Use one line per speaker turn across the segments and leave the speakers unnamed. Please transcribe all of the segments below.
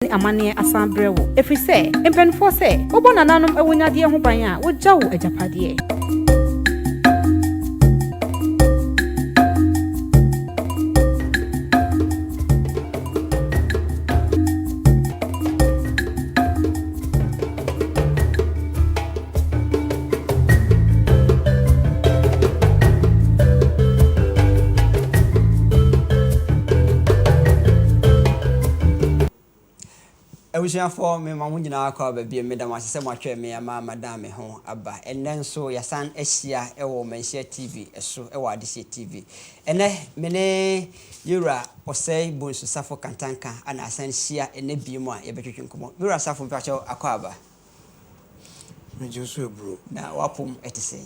ne amanneɛ asan brɛ wo, ɛfiri sɛ mpanimfoɔ sɛ wobɔ nananom awunyadeɛ ho ban a wogya wo agyapadeɛ.
Abusuafoɔ, me ma mo nyinaa kɔ aba bio. Meda mo ase sɛ moahwɛ me ama madan me ho aba. Ɛnnɛ nso yɛasan ahyia wɔ Manhyia TV so wɔ Adehyeɛ TV. Ɛnnɛ me ne Yewura Osei Bonsu Safo Kantanka na asan hyia ɛnnɛ biom a yɛbɛtwetwe nkɔmmɔ. Yewura Safo mpakyɛw akwaaba?
Megye wo so aburo. Na w'apom te
sɛn?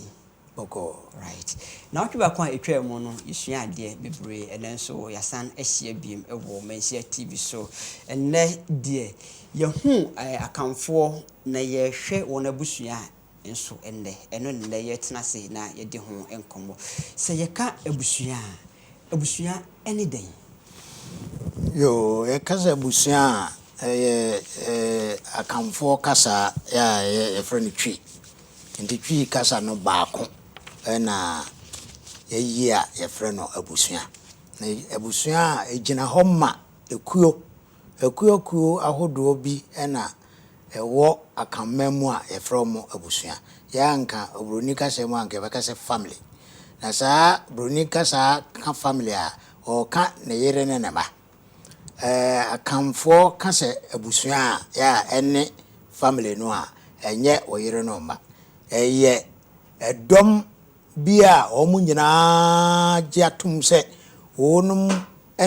Bɔkɔɔ.
Right.
Nnawɔtwe baako a ɛtwaa mu no yɛsuaa adeɛ bebree, ɛnnɛ nso yɛasan ahyia biom wɔ Manhyia TV so. Ɛnnɛ deɛ yɛahu Akanfoɔ na yɛrehwɛ wɔn abusua nso nnɛ. Ɛno na nnɛ yɛtena ase na yɛdi ho nkɔmmɔ. Sɛ yɛka abusua a, abusua ne dɛn?
Yoo, yɛka sɛ abusua a, ɛyɛ Akanfoɔ kasa a yɛfrɛ no Twi. Nti Twi kasa no baako na yɛayi a yɛfrɛ no abusua. Na abusua a, ɛgyina hɔ ma ekuo. Akuakuo ahodoɔ bi na ɛwɔ akanman mu a yɛfrɛ wɔn abusua. Yɛ a nka obroni kasa mu a nka yɛbɛka sɛ family. Na saa broni kasa ka family a, ɔreka ne yere ne ne mma. Ɛɛ akanfoɔ ka sɛ abusua a, yɛ a ɛne family no a, ɛnyɛ wo yere ne wo mma. Ɛyɛ ɛdɔm bi a wɔn nyinaa gye atom sɛ wɔnom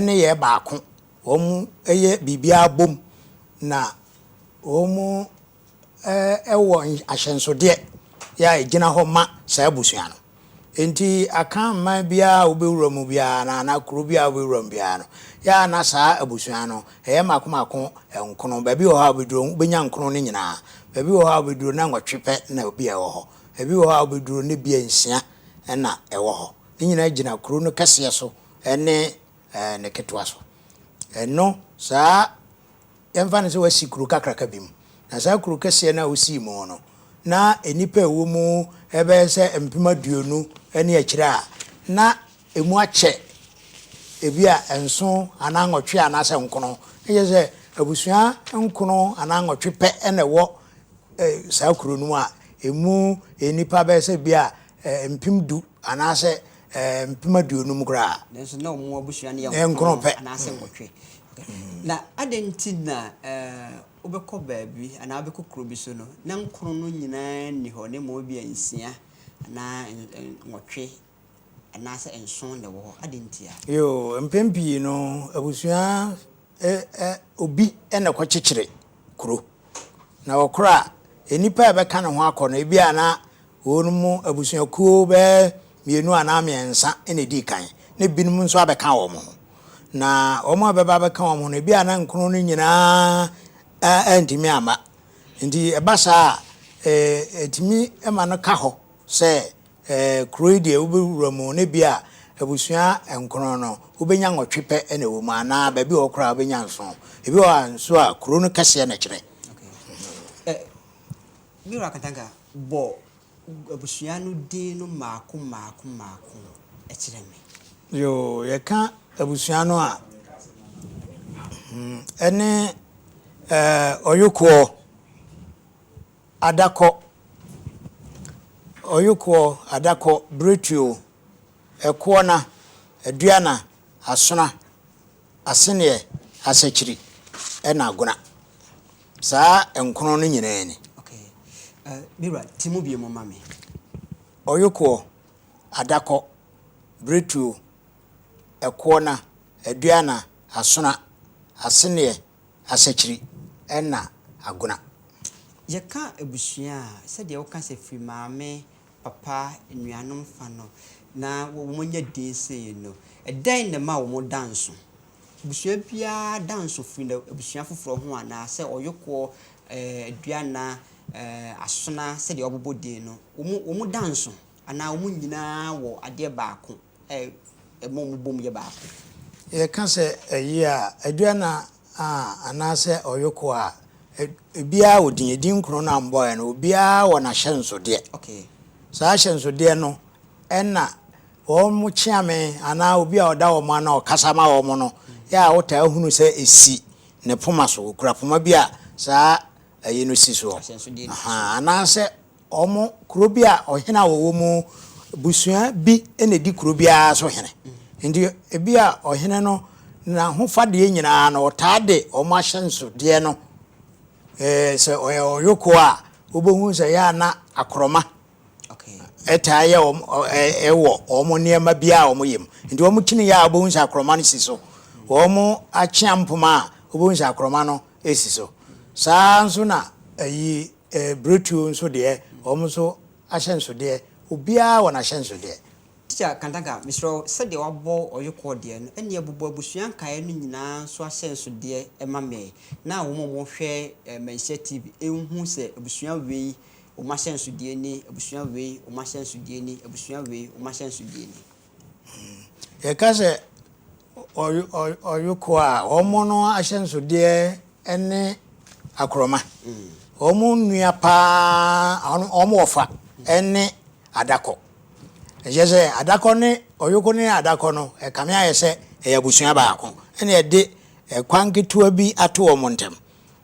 ne yɛ baako Wɔyɛ biribiara bom na wɔwɔ ahyɛnsodeɛ a ɛgyina hɔ ma saa abusua no. Enti Akanman biara a wobɛwura mu biara no anaa kuro biara a wobɛwura mu biara no, yɛ a na saa abusua no ɛyɛ mmaako mmaako nkono. Baabi wɔ hɔ a wobɛduru no wobɛnya nkono no nyinaa. Baabi wɔ hɔ a wobɛduru na nwɔtwe pɛ na ebia ɛwɔ hɔ. Baabi wɔ hɔ a wobɛduru no ebia nsia na ɛwɔ hɔ. Ne nyinaa gyina kuro no kɛseɛ so ne Ɛɛ, ne ketewa so. Ɛno saa ara, yɛmfa no sɛ woasi kuro kakraka bi mu, na saa kuro kɛseɛ no a wosii mu no, na nnipa a ɛwɔ mu bɛyɛ sɛ mpem aduonu ne akyire a, na ɛmu akyɛ ebia nson anaa nwɔtwe anaasɛ nkono. Na kyerɛ sɛ, abusua nkono anaa nwɔtwe pɛ na ɛwɔ saa kuro no mu a ɛmu nnipa bɛyɛ sɛ ebia mpem du anaasɛ mpem aduonum koraa a. Nanso na wɔn abusua
no yɛ nkron pɛ anaasɛ nwɔtwe. Na adɛn nti na wobɛkɔ baabi anaa wobɛkɔ kuro bi so no, na nkron no nyinaa nni hɔ, na mmom ebia nsia anaa nwɔtwe anaasɛ nson na ɛwɔ hɔ? Adɛn ntia? Yoo, mpɛn pii
no, abusua ɛ ɛ obi na ɛkɔkyekyere kuro. Na ɔkorɔ a, nnipa a ɛbɛka ne ho akɔ no, ebia na wɔn mu abusuakuo bɛyɛ mmienu anaa mmiɛnsa na ɛdii kan, na ebinom nso abɛka wɔn ho. Na wɔn a ɛbɛba abɛka wɔn ho no, ebia na nkron no nyinaa antumi amma. Nti ɛba saa a, ɛtumi ma no ka hɔ sɛ Ɛɛ, kuro yi deɛ wobɛwura mu no, ebia abusua nkron no, wobɛnya nwɔtwe pɛ na ɛwɔ mu, anaa baabi a ɛwɔ koraa wobɛnya nson. Ebi wɔ hɔ a nso a, kuro no kɛseɛ na ɛkyerɛ. Ɛ,
me wura Katanga, bɔ abusua no din no mmaako mmaako mmaako kyerɛ me. Yoo, yɛka
abusua no a, hmm, ɛne ɛɛ, Ɔyokoɔ. Adakɔ, Ɔyokoɔ, Adakɔ, Biretuo, Ɛkoɔna, Aduana, Asona, Aseneɛ, Asakyiri, ɛna Agona. Saa nkron no nyinaa ni. Okay. Uh,
me wura, ti mu bie mu ma me. Ɔyokoɔ,
Adakɔ, Biretuo, Ɛkoɔna, Aduana, Asona, Aseneɛ, Asekyiri na Agona. Yɛka
abusua a, sɛdeɛ woka sɛ firi maame, papa, anuanom fa no na wɔanya din sei no, ɛdɛn na ɛma wɔn da nso? Abusua biara da nso firi n'abusua foforɔ ho anaa? Sɛ Ɔyokoɔ, Aduana, Asona sɛdeɛ wɔabobɔ din no, wɔn da nso anaa wɔn nyinaa wɔ adeɛ baako? a ɛma
wɔbom yɛ baako.
Yɛka
sɛ
ɛye a, aduana
a anaasɛ ɔyoko a, ebiara wɔ din. Edin kron no a wɔbɔeɛ no, obiara wɔ n'ahyɛnsodeɛ. Okay. Saa
ahyɛnsodeɛ
no ɛna wɔn kyeame anaa obi a ɔda wɔn ano a ɔkasa ma wɔn no yɛ a wotaa hunu sɛ esi ne poma so. Okura poma bi a saa ɛye no si soɔ. Ahyɛnsodeɛ no si soɔ. Ahaa, anaasɛ wɔn kuro bi a ɔhene a wɔwɔ mu busua bi na ɛdi kuro biara so hene nti ebi a ɔhene no n'ahofadeɛ nyinaa no ɔtaa de wɔn ahyɛnsodeɛ no ɛɛ sɛ ɔyɛ ɔyoko a wobɛhu sɛ yɛ ana akorɔma
ɛtaa yɛ wɔn
ɛwɔ wɔn nneɛma bi a wɔn yɛ mu nti wɔn kyini yɛ a wobɛhu sɛ akorɔma no si so wɔn akyea mpoma a wobɛhu sɛ akorɔma no si so saa nso na ayi Ɛbretuo nso deɛ wɔn nso ahyɛnsodeɛ obiara wɔ n'ahyɛnsodeɛ. Teacher Kantagah
mesrɛ wo sɛdeɛ wabɔ ɔyɔkɔɔ deɛ no ɛneɛ bobɔ abusua nkaeɛ no nyinaa nso ahyɛnsodeɛ ma me na wɔn a wɔhwɛ Manhyia TV nhu sɛ abusua wei wɔn ahyɛnsodeɛ ni, abusua wei wɔn ahyɛnsodeɛ ni, abusua wei wɔn ahyɛnsodeɛ ni.
Yɛka sɛ ɔyoko a, wɔn no ahyɛnsodeɛ ne akorɔma. Wɔn nnua paa, wɔn wɔfa ne adakɔ. Ɛkyerɛ sɛ adakɔ ne ɔyoko ne adakɔ no, ɛkame ayɛ sɛ ɛyɛ abusua baako. Ɛna ɛde kwan ketewa bi ato wɔn ntam.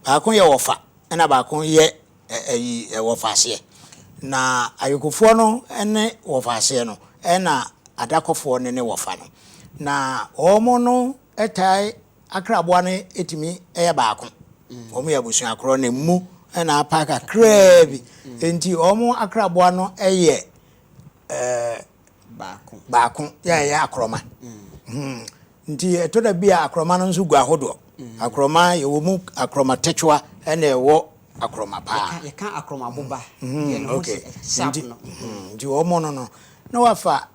Baako yɛ wɔfa, ɛna baako yɛ Ɛyi wɔfaseɛ. Na ayokofoɔ no ne wɔfaseɛ no, ɛna adakɔfoɔ no ne wɔfa no. Na wɔn no taa akraboa no tumi yɛ baako. Wɔn yɛ abusua korɔ na ɛmu na apa kakraa bi. Nti wɔn akraboa no yɛ ɛɛ. Baako. Baako yɛ a ɛyɛ akorɔma. Hmm. Nti ɛtɔ da bi a akorɔma no nso gu ahodoɔ. Akorɔma yɛwɔ mu akorɔma tɛkyewa ɛna ɛwɔ akorɔma paa. Yɛka akorɔma boba.
Yɛn ho sɛ
sharp no. Nti wɔn no no na wafa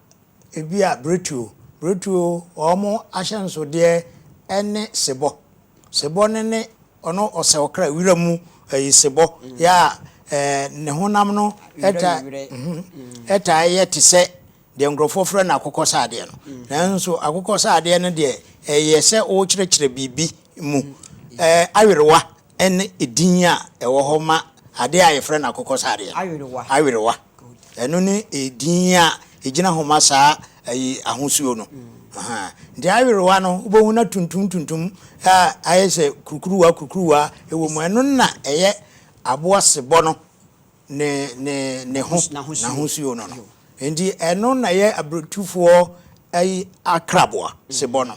ebi a bretuo. Bretuo wɔn ahyɛnsodeɛ ɛne sebɔ. Sebɔ no ne Ɔno ɔsɛ ɔkra wira mu nsebɔ a ne honam no taa yɛ te sɛ deɛ nkurɔfoɔ frɛ no akokɔsradeɛ no. Nanso akokɔsradeɛ no deɛ, ɛyɛ sɛ worekyerɛkyerɛ biribi mu. Awerewa ne edin a ɛwɔ hɔ ma adeɛ a wɔfrɛ no akokɔsradeɛ no. Awerewa. Ɛno ne edin a egyina hɔ ma saa ayi ahosuo no. Nti awerewa no wobɛhu na tuntum tuntum a ayɛ sɛ kurukuruwa kurukuruwa ɛwɔ mu. Ɛno na ɛyɛ aboa sebɔ no ne ne ne ho n'ahosuo no no. Nti ɛno na ɛyɛ abrotufoɔ ayi akraboa sebɔ no.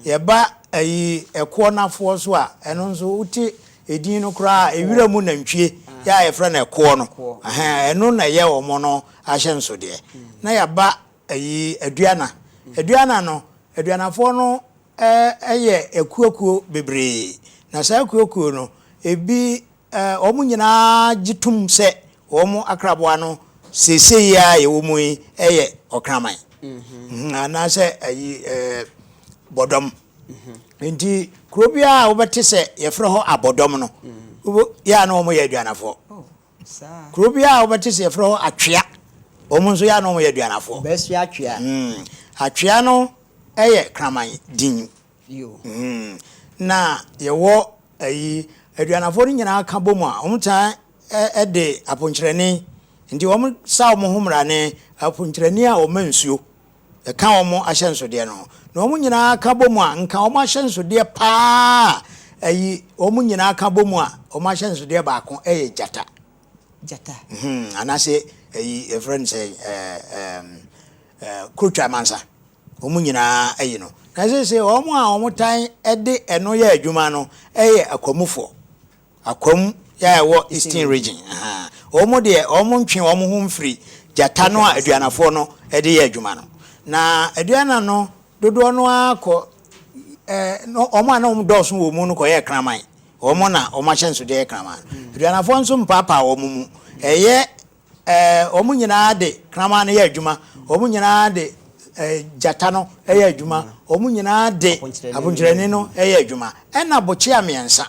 Yɛba ayi ɛkoɔ nafoɔ so a ɛno nso wote Edin no koraa, ewira mu nantwie yi a yɛfrɛ no ɛkoɔ no, ɛno na ɛyɛ wɔn no ahyɛnsodeɛ. Na yɛaba ayi Aduana. Aduana no, Aduanafoɔ no yɛ akuokuo bebree. Na saa akuokuo no, ebi wɔn nyinaa gye tom sɛ wɔn akraboa no seesei yi ara yɛwɔ mu yi yɛ ɔkraman. Anaasɛ ayi bɔdɔm. Nti kuro biara a wobɛte sɛ yɛfrɛ hɔ abɔdɔm no, yɛ a na wɔyɛ aduanafoɔ. Oh, kuro biara a wobɛte sɛ yɛfrɛ hɔ atwea, wɔn nso yɛ a na wɔyɛ aduanafoɔ. Bɛsi atwea. Mm.
Atwea
no yɛ kraman din. Mm. Na yɛwɔ ayi aduanafoɔ no nyinaa ka bɔ mu a wɔn tan de aponkyerɛni nti wɔn sa wɔn ho mmara ne aponkyerɛni a wɔma nsuo. ɛka wɔn ahyɛnsodeɛ no ho. Na wɔn nyinaa ka bɔ mu a, nka wɔn ahyɛnsodeɛ pa ara a ɛyi wɔn nyinaa ka bɔ mu a, wɔn ahyɛnsodeɛ baako yɛ gyata. Gyata. Hmm, anaasɛ ɛyi yɛfrɛ no sɛ kurotwa mansa. Wɔn nyinaa yi no. Na sese wɔn a wɔtan de ɛno yɛ adwuma no yɛ akwamufoɔ. Akwam a ɛwɔ Eastern Region. Wɔn deɛ wɔn ntwe wɔn ho mfiri gyata no a aduanafoɔ no de yɛ adwuma no. Na aduana no dodoɔ no ara kɔ no wɔn a na wɔn dɔɔso wɔ mu no kɔyɛ kraman. Wɔn na wɔn ahyɛnsodeɛ yɛ kraman. Aduanafoɔ nso mpaapae wɔn mu. Ɛyɛ Ɛɛ, wɔn nyinaa de kraman no yɛ adwuma, wɔn nyinaa de gyata no yɛ adwuma, wɔn nyinaa de aponkyerɛni no yɛ adwuma, ɛnna bokyea mmiɛnsa,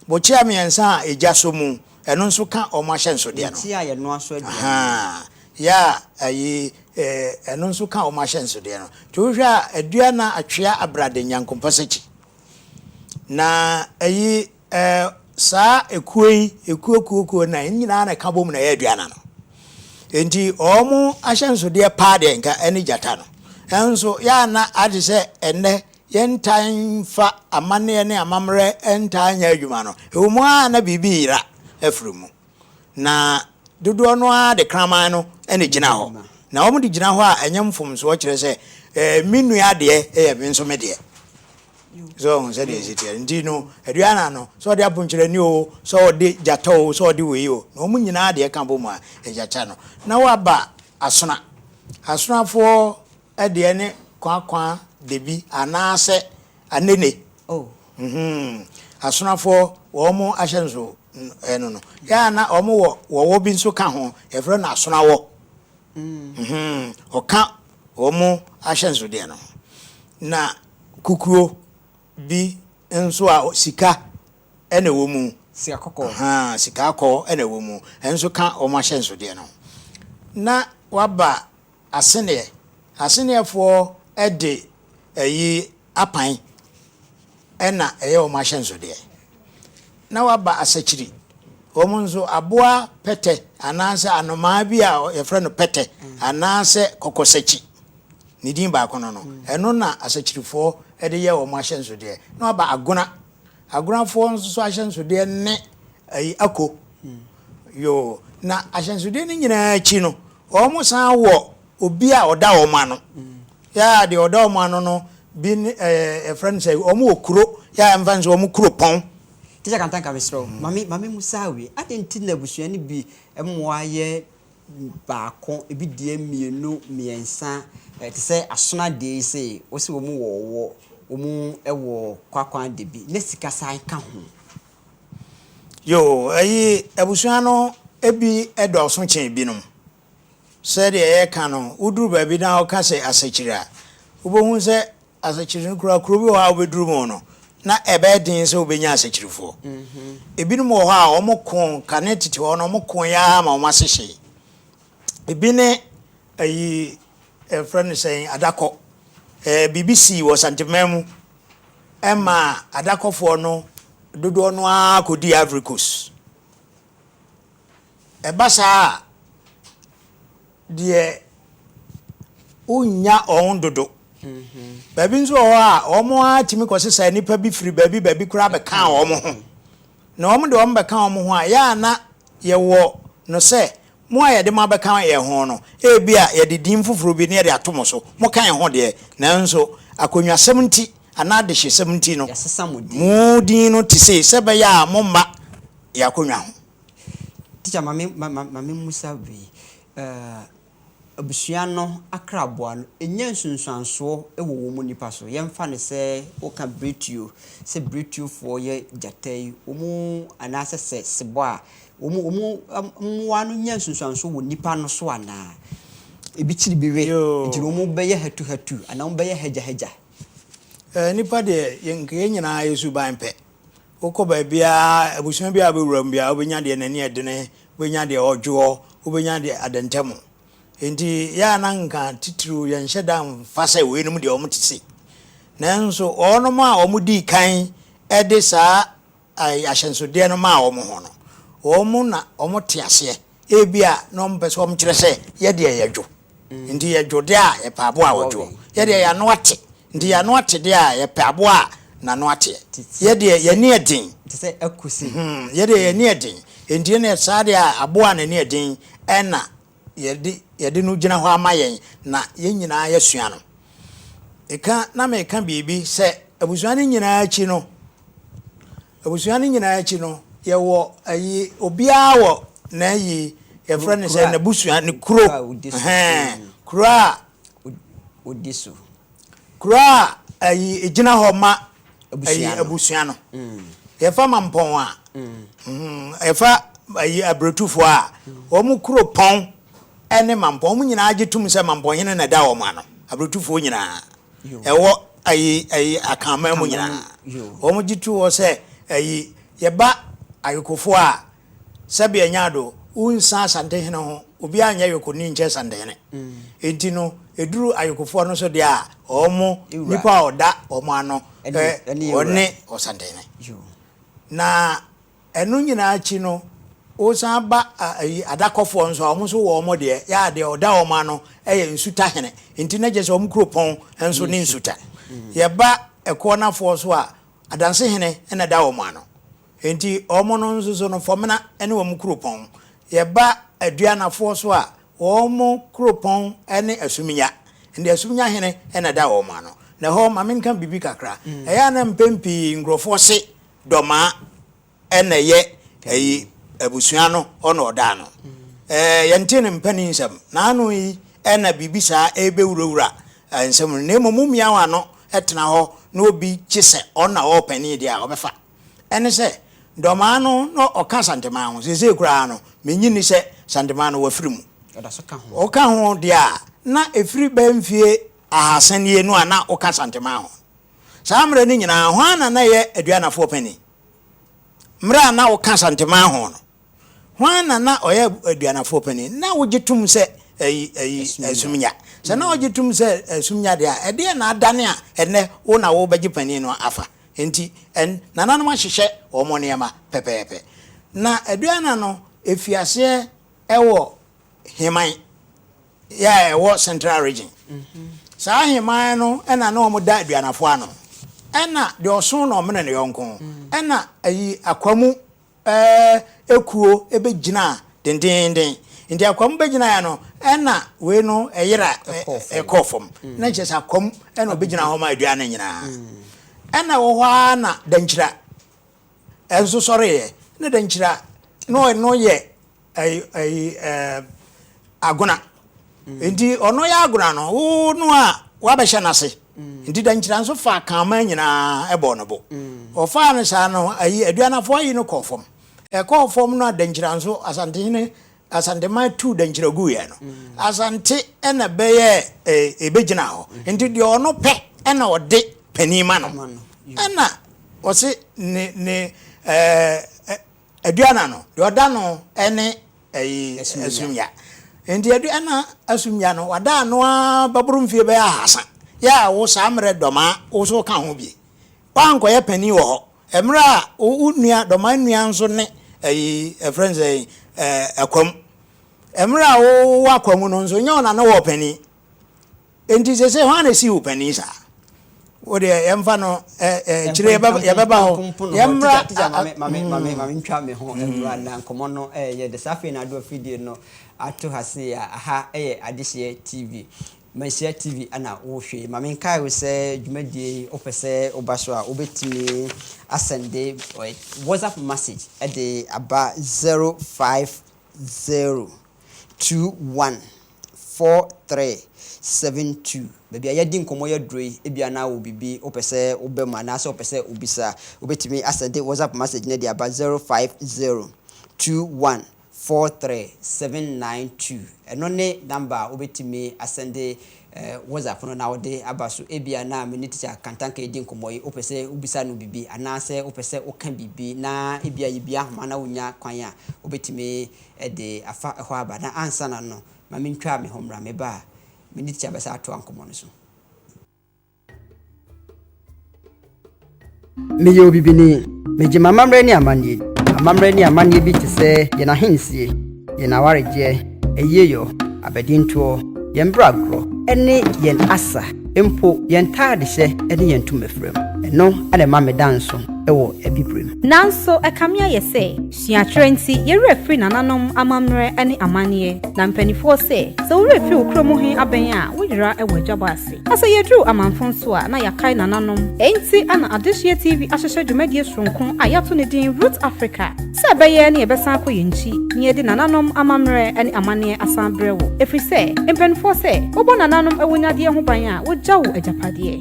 bokyea mmiɛnsa a egya sɔ mu, ɛno nso ka wɔn ahyɛnsodeɛ no. Bokyea a yɛnoa so aduane.
Ahaa, yɛ a
ayi, ɛno nso ka wɔn ahyɛnsodeɛ no. Nti wohwɛ a, adua na atwea abrade nyankompɔsakyi. Na ayi, Ɛɛ, saa ekuo yi, ekuo kuo kuo nnan, ne nyinaa na ɛka bom na ɛyɛ aduana no. Enti wɔn ahyɛnsodeɛ paa deɛ nka ɛne gyata no. Nanso yɛanna ade sɛ ɛnnɛ yɛntaa mfa amanneɛ ne amammerɛ ntaa nyɛ adwuma no. Ɛwɔ mu ara na biribi yera afiri mu. Na dodoɔ no ara de kraman no na ɛgyina hɔ. Na wɔde gyina hɔ a ɛnyɛ mfomsoɔ kyerɛ sɛ ɛɛ me nua deɛ yɛ me nso me deɛ. So ɔho sɛdeɛ ɛsi teɛ no? Nti no, aduanan no, sɛ ɔde aponkyerɛni oo, sɛ ɔde gyata oo, sɛ ɔde wei oo, na wɔn nyinaa deɛ ka bɔ mu a, ɛgya kya no. Na waba asona. Asonafoɔ deɛ ne kwakwa debi anaasɛ anene. Ɔhoo. Asonafoɔ, wɔn ahyɛ nso ɛno no. Yɛ a na wɔn wɔ wɔwɔ bi nso ka ho, yɛfrɛ no asonawɔ. Ɔhoo. Ɔka wɔn ahyɛnsodeɛ no ho. Na Kukuo bi nso a sika na ɛwɔ mu. Sika kɔkɔɔ. Ahaa,
sika kɔkɔɔ
na ɛwɔ mu. Ɛno nso ka wɔn ahyɛnsodeɛ no ho. Na wɔaba Aseneɛ. Aseneɛfoɔ de ayi apan na ɛyɛ wɔn ahyɛnsodeɛ. na waba asakyiri. Wɔn nso, aboa pɛtɛ anaasɛ anomaa bi a yɛfrɛ no pɛtɛ anaasɛ kɔkɔsakyi, ne din baako no no, ɛno na asakyirifoɔ de yɛ wɔn ahyɛnsodeɛ. Na waba agona. Agonafoɔ nso so ahyɛnsodeɛ ne ayi ako. Yoo, na ahyɛnsodeɛ no nyinaa akyi no, wɔn san wɔ obi a ɔda wɔn ano. Yaa deɛ ɔda wɔn ano no bi ne ɛɛ yɛfrɛ no sɛ wɔn wɔ kuro yaa yɛmfa no sɛ wɔn kuropɔn. Teacher Kantah nka
mesrɛ wo ma me ma me mu saa wei adɛn nti na abusua no bi mmoa yɛ baako ebi deɛ mmienu mmiɛnsa ɛɛ te sɛ Asona deɛ yi sei wɔsi wɔn wɔ ɔwɔ wɔn wɔ Kwakwan de bi na sika san ka ho. Yoo
ɛyi abusua no ebi dɔɔso kyɛn ebinom Sɛdeɛ yɛka no, woduru baabi na woka sɛ Asakyiri a, wobɛhu sɛ Asakyiri no koraa kuro bi wɔ hɔ a wobɛduru mu no, na ɛbɛyɛ den sɛ wobɛnya Asakyirifoɔ. Ebinom wɔ hɔ a wɔko, kane tete hɔ no wɔkoeɛ ara ma wɔn ase hyee. Ebi ne ayi, yɛfrɛ no sɛn, Adakɔ. Ɛɛ, biribi sii wɔ Santeman mu ma Adakɔfoɔ no dodoɔ no ara kɔdii Ivory Coast. Ɛba saa a, deɛ wonnya wɔn dodo. Baabi nso wɔ hɔ a, wɔn ara tumi kɔsesa nnipa bi firi baabi baabi koraa bɛka wɔn ho. Na wɔn de wɔn bɛka wɔn ho a, yɛ a na yɛwɔ no sɛ, mo a yɛde mo abɛka yɛn ho no, ebia yɛde din foforɔ bi na yɛde ato mo so. Moka yɛn ho deɛ, nanso akonnwasɛm nti anaa adehyesɛm nti no, mo din no te sei, sɛ ɛbɛyɛ a moremma yɛn akonnwa ho. Teacher
ma me ma ma ma memmisa wei, eh, abusua no akraboa no, ɛnya nsunsuansoɔ wɔ wɔn nnipa so? Yɛmfa no sɛ woka Brɛtuo, sɛ Brɛtuofoɔ yɛ gyata yi, wɔn anaasɛ sɛ Sebɔ a, wɔn wɔn mmoa no nya nsunsuansoɔ wɔ nnipa no so anaa? Ebi kyiri bi we, nti no wɔn bɛyɛ hatuhatu anaa wɔn bɛyɛ hagyahagya? Eh,
nnipa deɛ yɛn nka yɛn nyinaa yɛ suban pɛ. Wokɔ baabiara, abusua biara a wobɛwura mu biara, wobɛnya deɛ n'ani yɛ dene, wobɛnya deɛ ɔdwoɔ, wobɛnya deɛ adɛntɛm. Enti yɛ a na nka titiriw yɛnhyɛ da mfa sɛ weinom deɛ wɔte sei. Nanso wɔnom a wɔdii kan de saa ahyɛnsodeɛ no maa wɔn ho no, wɔn na wɔte aseɛ Ebia na wɔpɛ sɛ wɔkyerɛ sɛ, Yɛ deɛ yɛdwo, enti yɛdwo deɛ a yɛpɛ aboa a ɔdwoɔ. Yɛ deɛ yɛn ano ate, enti yɛn ano ate deɛ a yɛpɛ aboa a n'ano ateɛ. Yɛ deɛ yɛn ani ɛden,
yɛ deɛ yɛn ani
ɛden, enti ɛnneɛ saa deɛ a aboa a n'ani ɛden na yɛde no gyina hɔ ama yɛn na yɛn nyinaa yɛasua no. Ɛka na meka biribi sɛ abusua no nyinaa akyi no, Abusua no nyinaa akyi no yɛwɔ ayi obiara wɔ n'ayi yɛfrɛ no sɛ n'abusua ne kuro hɛn kuro a
odi so kuro
a ayi egyina hɔ ma ayi abusua no mm. yɛfa ma mpɔn a mm. mm, yɛfa ayi abiretufoɔ a wɔn kuro pɔn ɛne mampɔn wɔn nyinaa gye tum sɛ mampɔn hene na ɛda wɔn ano abiretufoɔ nyinaa. ɛwɔ ayi ayi akanman mu nyinaa wɔn gye tu wɔ sɛ ayi yɛba ayokofoɔ a sɛbea nya do wonsa asantehene ho obi anyɛ yokoni nkyɛ santehene enti no eduru ayokofoɔ no so deɛ a wɔn nipa a ɔda wɔn ano ɔne ɔsantehene
na
Ɛno nyinaa akyi no, wosan ba ayi adakɔfoɔ nso a, wɔn nso wɔ wɔn deɛ. Yɛ a deɛ ɔda wɔn ano yɛ nsutahene. Nti na kyerɛ sɛ wɔn kuropɔn nso ne nsuta. Yɛba Ɛkoɔnafoɔ so a, Adansehene na ɛda wɔn ano. Nti wɔn no nso so no, Fɔmena ne wɔn kuropɔn. Yɛba Aduanafoɔ so a, wɔn kuropɔn ne Asuminya. Nti Asuminyahene na ɛda wɔn ano. Na ɛhɔ, ma menka biribi kakra. Ɛyɛ a na mpɛn pii nkurɔfoɔ se Dɔmaa ɛna ɛyɛ ɛyi abusua no hɔ na ɔdaa no. Ɛɛ yɛnte ne mpanin nsɛm. N'ano yi ɛna biribi saa ɛbɛwurawura nsɛm no. Na mmom womia w'ano ɛtena hɔ na obi kye sɛ ɔno na ɔwɔ panin deɛ a, ɔbɛfa. Ɛne sɛ, Dɔmaa no na ɔka Santemaa ho. Seesei koraa no, mennye nni sɛ Santemaa no wafiri mu.
Woka ho deɛ a,
na ɛfiri bɛyɛ mfeɛ ahasa nie no a na woka Santemaa ho. Saa mmerɛ no nyinaa, hwan na na ɛyɛ Aduanafoɔ panin? Mmerɛ a na woka Santeman ho no, hwan na na ɔyɛ Aduanafoɔ panin? Na wogye tom sɛ ayi, ayi, Asumnya. Sɛ na wogye tom sɛ Asumnya deɛ a, ɛdeɛn na adane a ɛnnɛ wo na wobɛgye panin no afa? Enti, ɛn, nananom ahyehyɛ wɔn nneɛma pɛpɛɛpɛ. Na Aduana no firi aseɛ wɔ Heman. Yɛ a ɛwɔ Central Region. Saa ahemman no na na wɔda aduanafo ano. Ɛna deɛ ɔso na ɔmene ne yɔnko. Ɛna ayi Akwamu eh, kuo bɛgyinaa dendeenden. Nti Akwamu bɛgyinaeɛ no, ɛna wei no ɛyera ɛkɔɔ fam. Na nkyerɛ sɛ Akwamu ɛna ɔbɛgyina hɔ ma aduan no nyinaa. Ɛna wɔ hɔ ara na Dankyira ɛnso sɔreeɛ. Na Dankyira no ɔno yɛ. Ɛyi ɛyi ɛɛ agona. Nti ɔno yɛ agona no wo no a wabɛhyɛ n'ase. Nti dankyira nso faa Kaama nyinaa ɛbɔɔ ne bo. Ɔfaa no saa no ayi Aduanafo ayi no kɔɔ fam. Ɛkɔɔ fam no a dankyira nso Asantehene Asanteman tuu dankyira guiɛ no Asante ɛna bɛyɛɛ ɛɛ ɛbɛgyinaa hɔ. Nti deɛ ɔno pɛ ɛna ɔde panin ma no. Ɛna ɔse ne ne ɛɛ Aduana no, deɛ ɔda no ne ɛyi asumya. Nti aduana asumya no, wada ano ara bɛboro mfie bɛyɛ ahasa. Yɛ a wo saa mmerɛ Dɔmaa wo nso woka ho bi. Woankɔyɛ panin wɔ hɔ. Mmerɛ a wo nua, Dɔmaa nua nso ne ɛyi, yɛfrɛ no sɛn, Akwam. Mmerɛ a wowɔ Akwam no nso, nyɛ wo na ne woɔ panin. Enti seesei hwan na esi wo panin saa? Wo deɛ yɛmfa no akyire yɛbɛba hɔ. Yɛmmra.
Maame ntwa me ho mmra na nkɔmmɔ no yɛ de. Saa afei na ado afidie no ato ha sei a, aha yɛ Adehyeɛ TV. Manhyia TV na wohwɛ yi. Maame nkae wo sɛ dwumadie yi wopɛ sɛ woba so a, wobɛtumi asɛnde WhatsApp message de aba 050 21 four three seven two baabi a yɛadi nkɔmmɔ yi aduro yi ebia na wɔ biribi wopɛ sɛ woba mu anaasɛ wopɛ sɛ wobisa a wobɛtumi asɛde whatsapp message no de aba zero five zero two one four three seven nine two ɛno ne number a wobɛtumi asɛde eh, whatsapp no na wode aba so ebia na me ne teacher kantanka yɛdi nkɔmmɔ yi wopɛ sɛ wobisa no biribi anaasɛ wopɛ sɛ woka biribi na ebia yɛbia ahoma na wonya kwan a wobɛtumi de afa hɔ aba na ansa na no ma mintwaa me ho mmra me ba a me ne tikya bɛsan atoa nkɔmmɔ no so. Meyɛ obibini. Migye m'amammerɛ ne amanneɛ di. Amammerɛ ne amanneɛ bi te sɛ yɛn ahensie, yɛn awaregyeɛ, ayiyeyɔ, abadintoɔ, yɛn bra agorɔ, ne yɛn asa, mpo yɛn ntaadehyɛ ne yɛn ntomafiram. Ɛno na ɛma meda nso wɔ Abibirem. Nanso ɛkame
ayɛ sɛ Suakyerɛ nti, yɛ werɛ firi nananom amammerɛ ne amanneɛ. Na mpanimfoɔ sɛ, sɛ wo werɛ firi wo kuro mu he abɛn a, wo yera wɔ adwabɔ ase. Na sɛ yɛduru amamfo nso a, na yɛakae nananom. Enti na Adehyeɛ TV ahyehyɛ dwumadie sononko a yɛato ne din Roots Africa sɛ ɛbɛyɛ na yɛbɛsan akɔ yɛn nkyi na yɛde nananom amammerɛ ne amanneɛ asan abrɛ wo. Ɛfiri sɛ, mpanimfoɔ sɛ, wobɔ nananom awunyadeɛ ho ban a, wogya wo agyapadeɛ.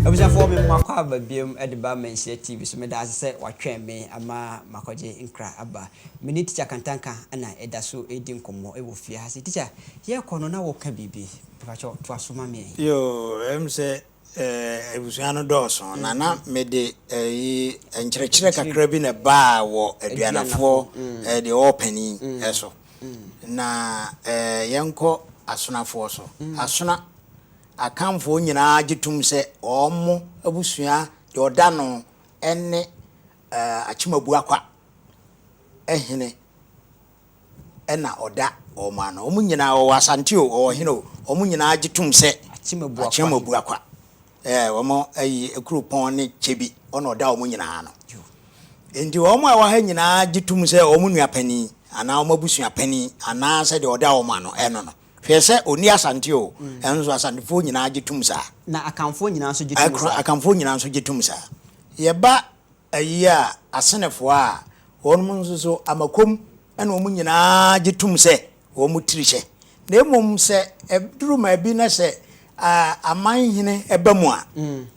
Abusuafoɔ me makɔ aba biom de ba Manhyia TV so meda ase sɛ watwɛn me ama makɔgye nkra aba Me ne Tikya Kantanka na ɛda so redi nkɔmmɔ wɔ fie ha sei. Tikya, yɛrekɔ no na woreka biribi. Mepakyɛ wo, toa so ma me. Yoo, ɛwɔ mu sɛ
abusua no dɔɔso, na na mede ayi nkyerɛkyerɛ kakra bi na ɛbaa wɔ aduanafoɔ deɛ ɔwɔ panin so, na yɛnkɔ asonafoɔ so. Asona, Akanfoɔ nyinaa gye tom sɛ wɔn abusua deɛ ɔda ano ne Eh, Akyemabuakwa eh hene eh na ɔda wɔn ano. Wɔn nyinaa, wɔwɔ Asante o, wɔwɔ hene o, wɔn nyinaa gye tom sɛ Akyemabuakwa Akyemabuakwa eh, wɔn ayi Akuropɔn ne Kyebi, ɔna ɔda wɔn nyinaa ano. Enti wɔn a ɛwɔ ha nyinaa gye tom sɛ wɔn nua panin anaa wɔn abusua panin anaa sɛ deɛ ɔda wɔn ano eh no no. Hwɛ sɛ ɔnni Asante o, nanso nso Asantefoɔ nyinaa gye tom saa. Na Akanfoɔ nyinaa
nso gye tom saa. Akanfoɔ nyinaa nso gye tom
saa. Yɛba ayi a, Asenefoɔ a, wɔnom nso so Amakom ne wɔn nyinaa gye tom sɛ wɔn tiri hyɛ. Na mmom sɛ ɛduru maabi na sɛ amanhene ba mu a,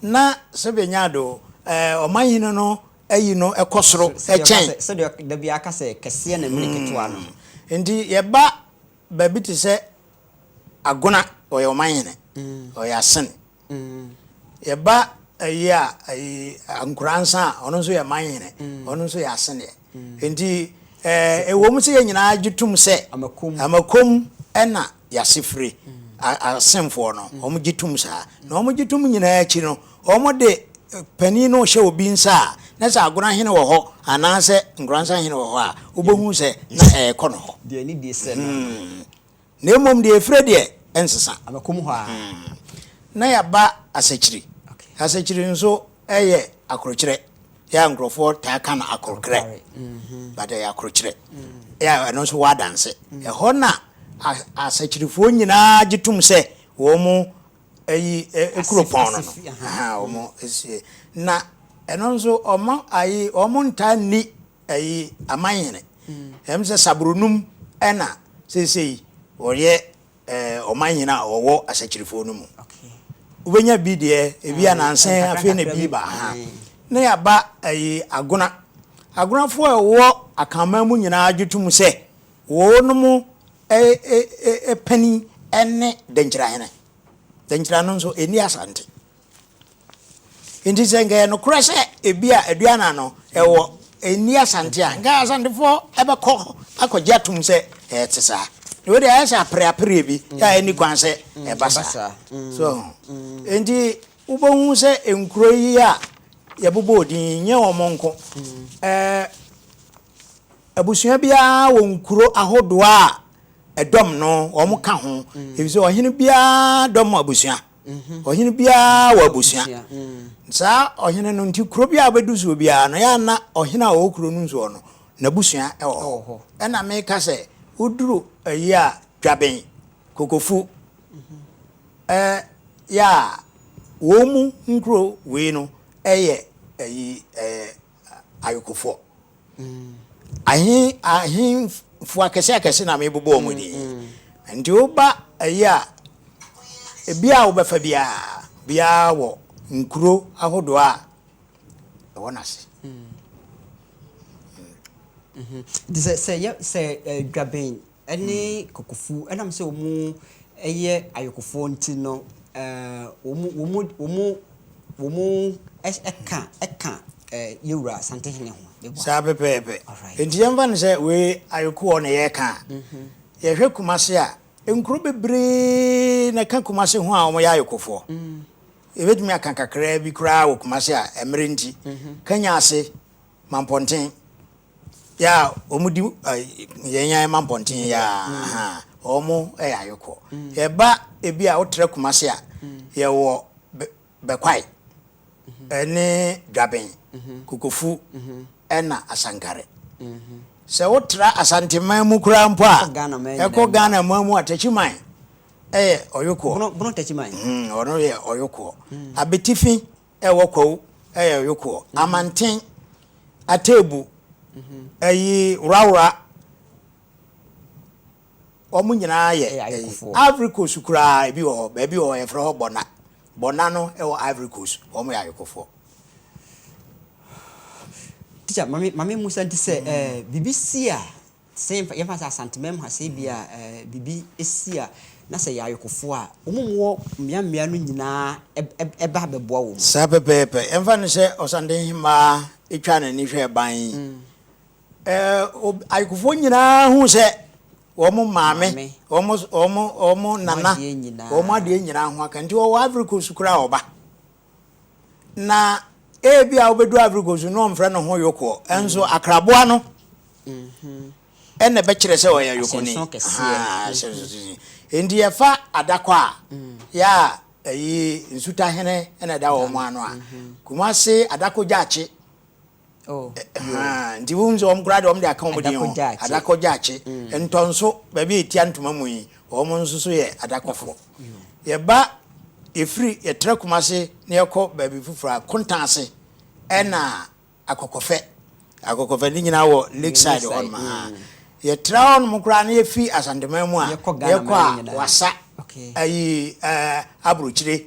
na Sylvia Nyado, ɔmanhene no ayi no kɔ soro kyɛn. Sɛdeɛ ɔka sɛ, da biara
ka sɛ, kɛseɛ na ɛmene ketewa no. Nti yɛba
Baabi te sɛ Agona, ɔyɛ ɔmanhene, ɔyɛ Asen. Yɛba ayi a, ayi Ankoransa a, ɔno nso yɛ manhene, ɔno nso yɛ Asen deɛ. Nti ɛwɔ mu sɛ yɛn nyinaa gye tom sɛ Amakom na yɛase firi, Asenfoɔ no, wɔgye tom saa. Na wɔgye tom nyinaa akyi no, Wɔde panin no hyɛ obi nsa a, na sɛ agorɔ hene wɔ hɔ anaasɛ nkoransa hene wɔ hɔ a, wobɛhu sɛ na ɛrekɔ ne hɔ.
Na
mmom deɛ ɛfire deɛ, ɛnsesa.
Na
yɛaba asakyiri. Asakyiri nso yɛ akorokyerɛ. Yɛ a nkurɔfoɔ taa ka no akorokrɛ, but ɛyɛ akorokyerɛ. Yɛ a ɛno nso wɔ adanse. Ɛhɔ na asakyirifoɔ nyinaa gye tom sɛ wɔn Eyi eh kuropɔn no no aha wɔn esie na ɛno nso wɔn ayi wɔn ntaa nni ɛyi amanhene ɛm sɛ saburonum ɛna seesei wɔyɛ ɛɛ ɔmanhene a wɔwɔ asakyirifoɔ no mu wobɛnya bi deɛ ebi ananse afei na ebi ba ha na yaba ɛyi agona agonafoɔ a ɛwɔ akanman mu nyinaa gye tom sɛ Wɔnom panin ne Dankyirahene. Dankyira no nso, ɛnni Asante. Nti sɛ nka ɛyɛ nokorɛ sɛ ebi a Aduana no ɛwɔ ɛnni Asante a, nka Asantefoɔ bɛkɔ akɔgye atom sɛ ɛte saa. Na wei deɛ ayɛ sɛ apereapereɛ bi a ɛnni kwan sɛ ɛba saa. So ho. Nti wobɛhu sɛ nkuro yi a yɛbobɔɔ din yi, nyɛ wɔn nko. Abusua biara wɔ nkuro ahodoɔ a ɛdɔm no wɔn ka ho efisɛ ɔhene biara dɔm abusua ɔhene biara wɔ abusua saa ɔhene no nti kuro biara bɛdu soɔ biara no yɛ ana ɔhene a ɔwɔ kuro no nsoɔ no n'abusua ɛwɔ hɔ ɛna meka sɛ woduru ayi a dwaben kokofu ɛɛ yɛ a wɔn mu nkuro wei no ɛyɛ ayi ɛɛ ayekofoɔ. Ahe ahemfo akɛse akɛse na mebobɔ wɔn din. Nti woba ayi a, ebi a wobɛfa biara, biara wɔ nkuro ahodoɔ a ɛwɔ n'ase.
Nti sɛ, sɛ yɛ, sɛ Dwabɛn ne Kokofu, ɛnam sɛ wɔyɛ ayɔkofoɔ nti no, wɔka ka Yɛwura Asantehene ho. Saa pɛpɛɛpɛ.
Enti yɛmfa no sɛ wei ayɔkoɔ na yɛreka a, yɛhwɛ Kumase a, nkuro bebree na ɛka Kumase ho a wɔyɛ ayɔkofoɔ. Yɛbɛtumi aka kakraa bi koraa wɔ Kumase a, mmerɛ nti, Kanyase, Mampɔnten, Yɛ a wɔdi yɛn yan ma mpɔnten yɛ a wɔyɛ ayɔkɔ. Yɛba ebi a wotra Kumase a, yɛwɔ Bɛkwae ne Dwaben, Kokofu na Asankare. Sɛ wotra Asanteman mu koraa mpo a, ɛkɔ Ghana man mu a, Takyiman yɛ ɔyɔkoɔ. Bono Takyiman.
Ɔno yɛ
ɔyɔkoɔ. Abetifi Ɛwɔ kwawu ɛyɛ yokoɔ amanten ateebu ɛyi worawora wɔn nyinaa yɛ ɛyi ivory coast koraa ebi wɔ hɔ baabi wɔ hɔ yɛfrɛ hɔ bɔna bɔna no ɛwɔ ivory coast wɔn yɛ ayokofoɔ.
Teacher, mame mame musa nti sɛ ɛɛ bibi si a. te sɛ yɛmfa yɛmfa sɛ Asanteman mu ha sɛ ebia ɛɛ biribi si a na sɛ yɛ ayokofoɔ a, wɔn wɔ mmea mmea no nyinaa ɛb ɛb ɛba bɛboa wɔn. Saa pɛpɛɛpɛ. Yɛmfa
no sɛ Ɔsantehemmaa twaa n'ani hwɛɛ ban yi, ɛɛ ob ayokofoɔ nyinaa hu sɛ wɔn maame, Maame. wɔn s wɔn wɔn Wɔn nana, adeɛ nyinaa. wɔn adeɛ nyinaa ho aka. Nti ɔwɔ Ivory Coast koraa a ɔba. na ebia obedu Ivory Coast na ɔmfrɛ ne ho yokoɔ nso akraboa no ɛna ɛbɛkyerɛ sɛ ɔyɛ yokoni nti yɛfa adakɔ a yɛ a ɛyi nsutahene ɛna ɛda wɔn ano a Kumase adakɔ gyaakye Nti wohu sɛ wɔn koraa deɛ wɔn de aka wɔn din ho, adakɔ gyaakye, ntɔnso, baabi a etia ntoma mu yi, wɔn nso so yɛ adakɔfoɔ. Yɛba yɛfiri yɛtra Kumase na yɛkɔ baabi foforɔ a, Kontan ase ɛna Akɔkɔfɛ. Akɔkɔfɛ ne nyinaa wɔ Lakeside hɔ nom a. Yɛtra hɔ nom koraa na yɛfiri Asanteman mu a, yɛkɔ a Wassa, ayi Aburokyire,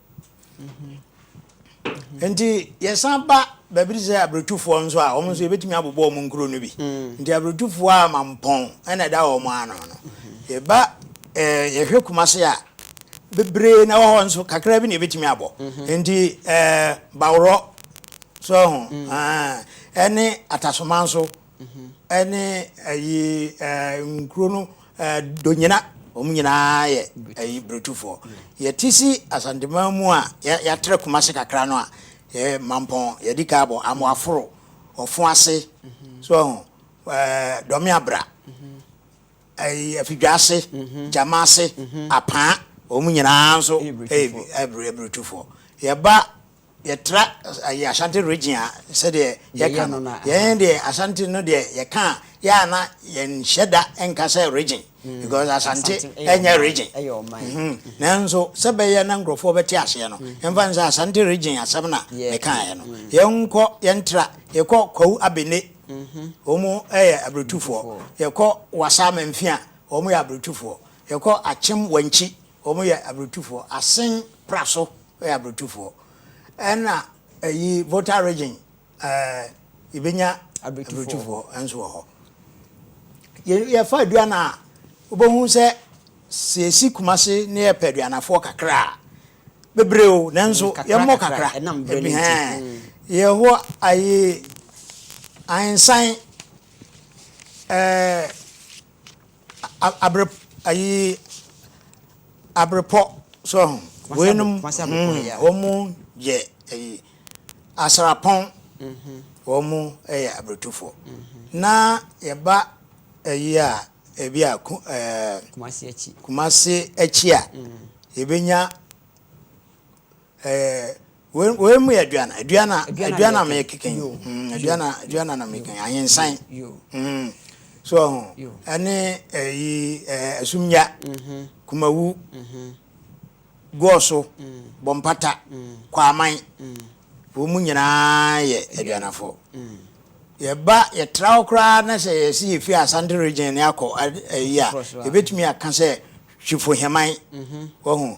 nti yɛsan ba baabi te sɛ aburotufoɔ nso a wɔn nso yɛbɛtumi abobɔ wɔn nkuro no bi mm. nti aburotufoɔ a mampɔn ɛna ɛda wɔn ano no yɛba ɛɛ eh, yɛhwɛ kumase a bebree na wɔhɔ nso kakra bi na yɛbɛtumi abɔ mhm. nti ɛɛ eh, baworɔ so ho mhm. ɛne atasoma nso ne ayi nkuro no donyina wɔn nyinaa yɛ ayi burotufoɔ yɛte si asanteman mu a yɛatrɛ kuma se kakra no a yɛ mampɔn yɛdi ka abɔ amoaforo ɔfo ase so ɔho dɔme abra ayi afidwa ase gyama ase apaa wɔn nyinaa nso ɛyɛ burotufoɔ yɛba Yɛtra ɛyɛ Ashanti region a sɛdeɛ yɛka no, yɛn deɛ Ashanti no deɛ yɛka a yɛ a na yɛnhyɛ da nka sɛ region mm. because Ashanti ɛnyɛ region nanso sɛ bɛyɛ na nkurɔfoɔ bɛte aseɛ no yɛmfa mm. n sɛ Ashanti region asɛm na mekaeɛ no mm. yɛnkɔ yɛntra yɛkɔ Kwawu Abene mm-hmm. wɔn yɛ aburotufoɔ yɛkɔ Wasa Mamfia wɔn yɛ aburotufoɔ yɛkɔ Akyem Wankyi Wɔn yɛ abrotufoɔ asen pra so yɛ abrotufoɔ ɛna ɛyi volta region ɛɛ yɛbɛnya abrotufoɔ nso wɔ hɔ yɛ yɛfa aduana a wobɛhu sɛ sɛ yɛsi kumase ne yɛpɛ aduanafoɔ kakra a bebree o nanso mm, yɛmmɔ kakra ebi hɛn mm. yɛhɔ ayi ahensan ɛɛ. Abrepɔ so ho wei nom wɔmo yɛ asrapɔn wɔmo yɛ abretufoɔ na yɛba ayi a ebi a kumase akyi a yɛbɛnya Ɛɛ wei mu yɛ aduan aduan a aduan a meyɛ keke mm, aduan a aduan a na meyɛ keke ahensan mm, so ɔho ɛne ɛyi ɛɛ asumnya mm-hmm. kumawu mm-hmm. gɔɔso mm. bɔmpata mm. kwaman wɔn mu nyinaa yɛ aduanafo yɛba yɛtra hɔ koraa na sɛ yɛsi yɛfi asante region ne akɔ ɛyi a yɛbɛtumi aka sɛ hwefo hɛman wɔho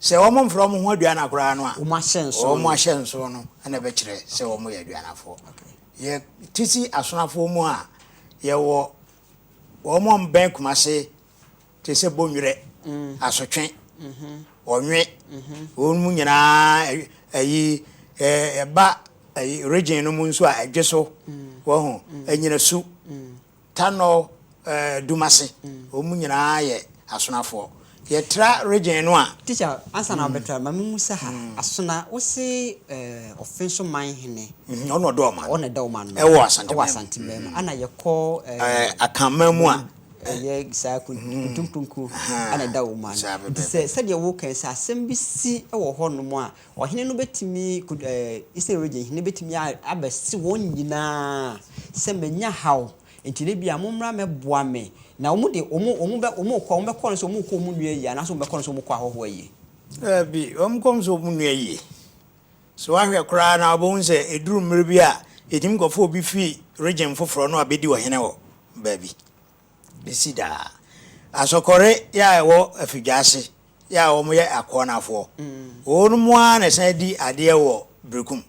Sɛ wɔmfrɛ wɔn ho aduana koraa no a, wɔn ahyɛnsoɔ no na ɛbɛkyerɛ sɛ wɔyɛ aduanafoɔ. Yɛte si asonafoɔ mu a, yɛwɔ wɔn a wɔbɛn Kumase te sɛ Bonnwerɛ, mm. Asotwe, mm-hmm. Ɔnwe, mm-hmm. wɔn mu nyinaa ayi ɛba region no mu nso a ɛdwe so, mm. wɔho, mm. ɛnyina su, mm. Tanor Dumase wɔn nyinaa yɛ Asonafoɔ. Yɛtra region no a. Teacher, ansa na wobɛtra
no, ma me mmusa ha. Asona, wo se ɔfe nso man hene. Ɔno na ɔda ɔman no. Ɔno
na ɛda ɔman no. Ɛwɔ Asanteman
mu. Ɛwɔ Asanteman
mu. Ana yɛkɔ.
Akanman
mu a. Ɛyɛ saa
Kuntum Pronko. Ɛna ɛda ɔman no. Saa bɛbɛɛbɛ. Nti sɛ, sɛdeɛ woka yi, sɛ asɛm bi si wɔ hɔnom a, Ɔhene no bɛtumi, Israel region hene bɛtumi abɛse wɔn nyinaa sɛ, Manya haw, enti na ebia mommra mmɛboa me. Na wɔn de, wɔn, wɔn bɛ, wɔn rekɔ a, wɔbɛkɔ no sɛ wɔn rekɔ wɔn nua ayie anaasɛ wɔbɛkɔ no sɛ wɔn rekɔ ahɔhoɔ ayie? Daabi, wɔn
kɔ no sɛ wɔn nua ayie. So woahwɛ koraa na wobɛhu sɛ ɛduru mmerɛ bi a, yɛtumi kɔfa obi firi region foforɔ na wabɛdi ɔhene wɔ baabi? besi daa. Asɔkɔre yi a ɛwɔ Afidwaase yi a wɔyɛ Akoanafoɔ, wɔnom ara na ɛsan di adeɛ wɔ Berekum.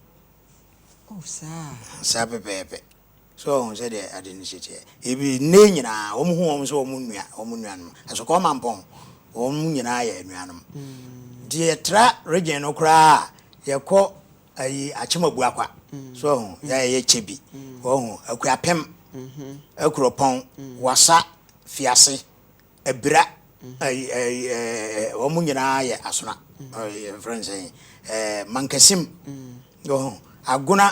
Oh, saa. Saa pɛpɛɛpɛ. So wɔhu sɛdeɛ ade no si teɛ. Ebi nnɛ nyinaa, wɔn hu wɔn sɛ wɔn nua, wɔn nuanom. Asɔkɔɔ Mampɔn, wɔn nyinaa yɛ anuanom. Nti yɛtra region no koraa a, yɛkɔ. ayi Akyemabua kwa so wahu yɛ a ɛyɛ kyɛ bi wahu Akuapem Akuropɔn Wasa Fiase Abira ayi ayi ɛɛ wɔn nyinaa yɛ Asona ɛɛ yɛfrɛ no sɛn ɛɛ Mankasim wahu Agona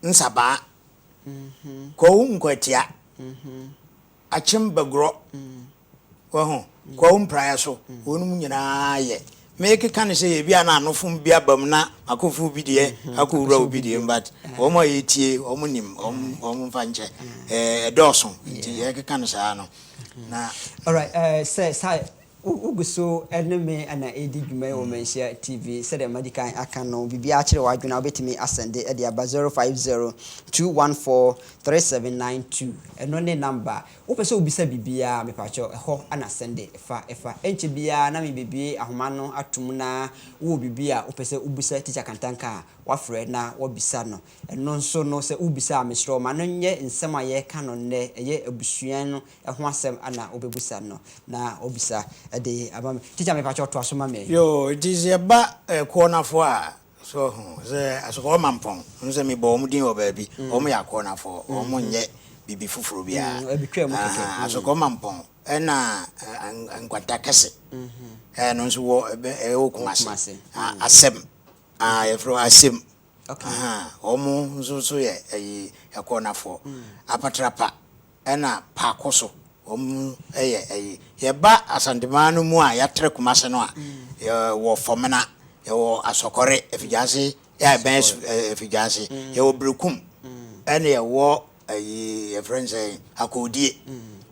Nsabaa Kwawu Nkwatia Akyem Bagorɔ, wahu, Kwawu Mpraeɛ so, wɔnom nyinaa yɛ. Meekeka no sɛ ebia na anofom bi aba mu na makɔforo bi deɛ akɔwura obi deɛ mu but wɔn a wɔretie wɔn nim, wɔn mfa nkyɛ. Ɛdɔɔso nti yɛrekeka no saa no. Na. Alright,
sɛ saa. Wogu so ne me na ɛredi dwuma yi wɔ Manhyia TV. Sɛdeɛ madi kan aka no, biribiara kyere w'adwene a, wobɛtumi asɛnde de aba 0502143792. Ɛno ne namba. Wopɛ sɛ wobisa biribiara a, mepakyɛw, ɛhɔ na sɛnde fa fa. Ɛnkyɛ biara na mebɛbue ahoma no ato mu na wowɔ biribi a wopɛ sɛ wobisa Tikya Kantanka a, woafrɛ na woabisa no. Ɛno nso no, sɛ wobisa a, mesrɛ wo, ma no nyɛ nsɛm a yɛreka no nnɛ, ɛyɛ abusua no ɛho asɛm ana wobɛbisa no na ɔbisa de ama me. Teacher me pakyɛw toa so ma me. Yoo nti sɛ yɛba
Kuonafɔ a so ɔho sɛ Asukɔɔ Mampɔn no sɛ me bɔ wɔn din wɔ baabi wɔn yɛ Akuonafɔ wɔn nyɛ biribi foforɔ biara ahaa
Asukɔɔ Mampɔn
ɛna Nkwanta Kɛse ɛno nso wɔ ɛwɔ Kumase Asɛm aa yɛfrɛ hɔ Asem Ahaa,
wɔn
nso nso yɛ ɛyi ɛkɔɔnafoɔ. Apatrapa ɛna Paakoso, wɔn ɛyɛ ɛyi. Yɛba Asantemaa no mu a, yɛatrɛ Kumase no a, yɛ wɔ Fɔmena, yɛ wɔ Asɔkɔre, Afigyase, yɛ a ɛbɛn Asu ɛɛ Afigyase, yɛ wɔ Berekum, ɛna yɛ wɔ ɛyi yɛfrɛ no sɛn, Akoodie.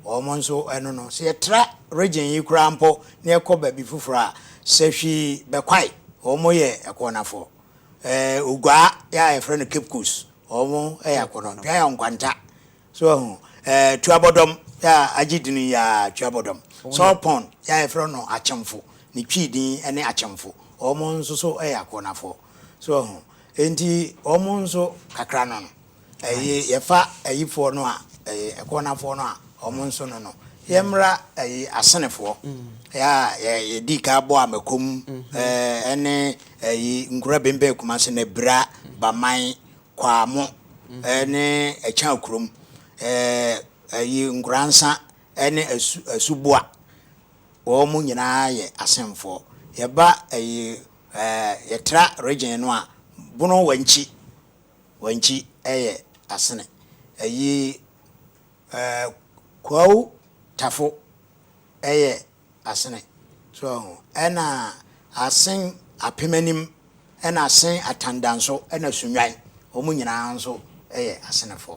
Wɔn nso ɛno no, sɛ yɛtra region yi koraa mpo na yɛkɔ baabi foforɔ a, sɛ hwii bɛkwae, wɔn yɛ ɛkɔɔnafoɔ. Ɛɛ oguaa yɛ a yɛfrɛ no Cape Coast ɔmo yɛ akɔnɔ dua yɛ nkwanta so wahu ɛɛ tuabɔdɔm yɛ a agye din yɛ a tuabɔdɔm salt pond yɛ a yɛfrɛ no akyemfo ne twii din ɛne akyemfo ɔmo nso so yɛ akɔnafoɔ so wahu enti ɔmo nso kakra no no. Ɛyi yɛfa ayifoɔ no a ɛyi ɛkɔɔnafoɔ no a wɔn nso no no yɛmmra ɛyi asenefoɔ yɛ a yɛ yɛdi ka bɔ amakom ɛɛ ɛne ɛyi nkura bɛnbɛn kumase na bira baman kwaamo ɛne ɛkyɛn akurom ɛɛ ɛyi nkuransa ɛne asu asuboa wɔn nyinaa yɛ asenfoɔ yɛba ɛyi ɛɛ yɛtra region no a bono wankyi. Wankyi ɛyɛ asene ayi eh Kwawu tafo ɛyɛ asene so wɔ ho ɛna asen apem anim ɛna asen atandanso ɛna sunwan wɔn nyinaa nso ɛyɛ asenefɔ.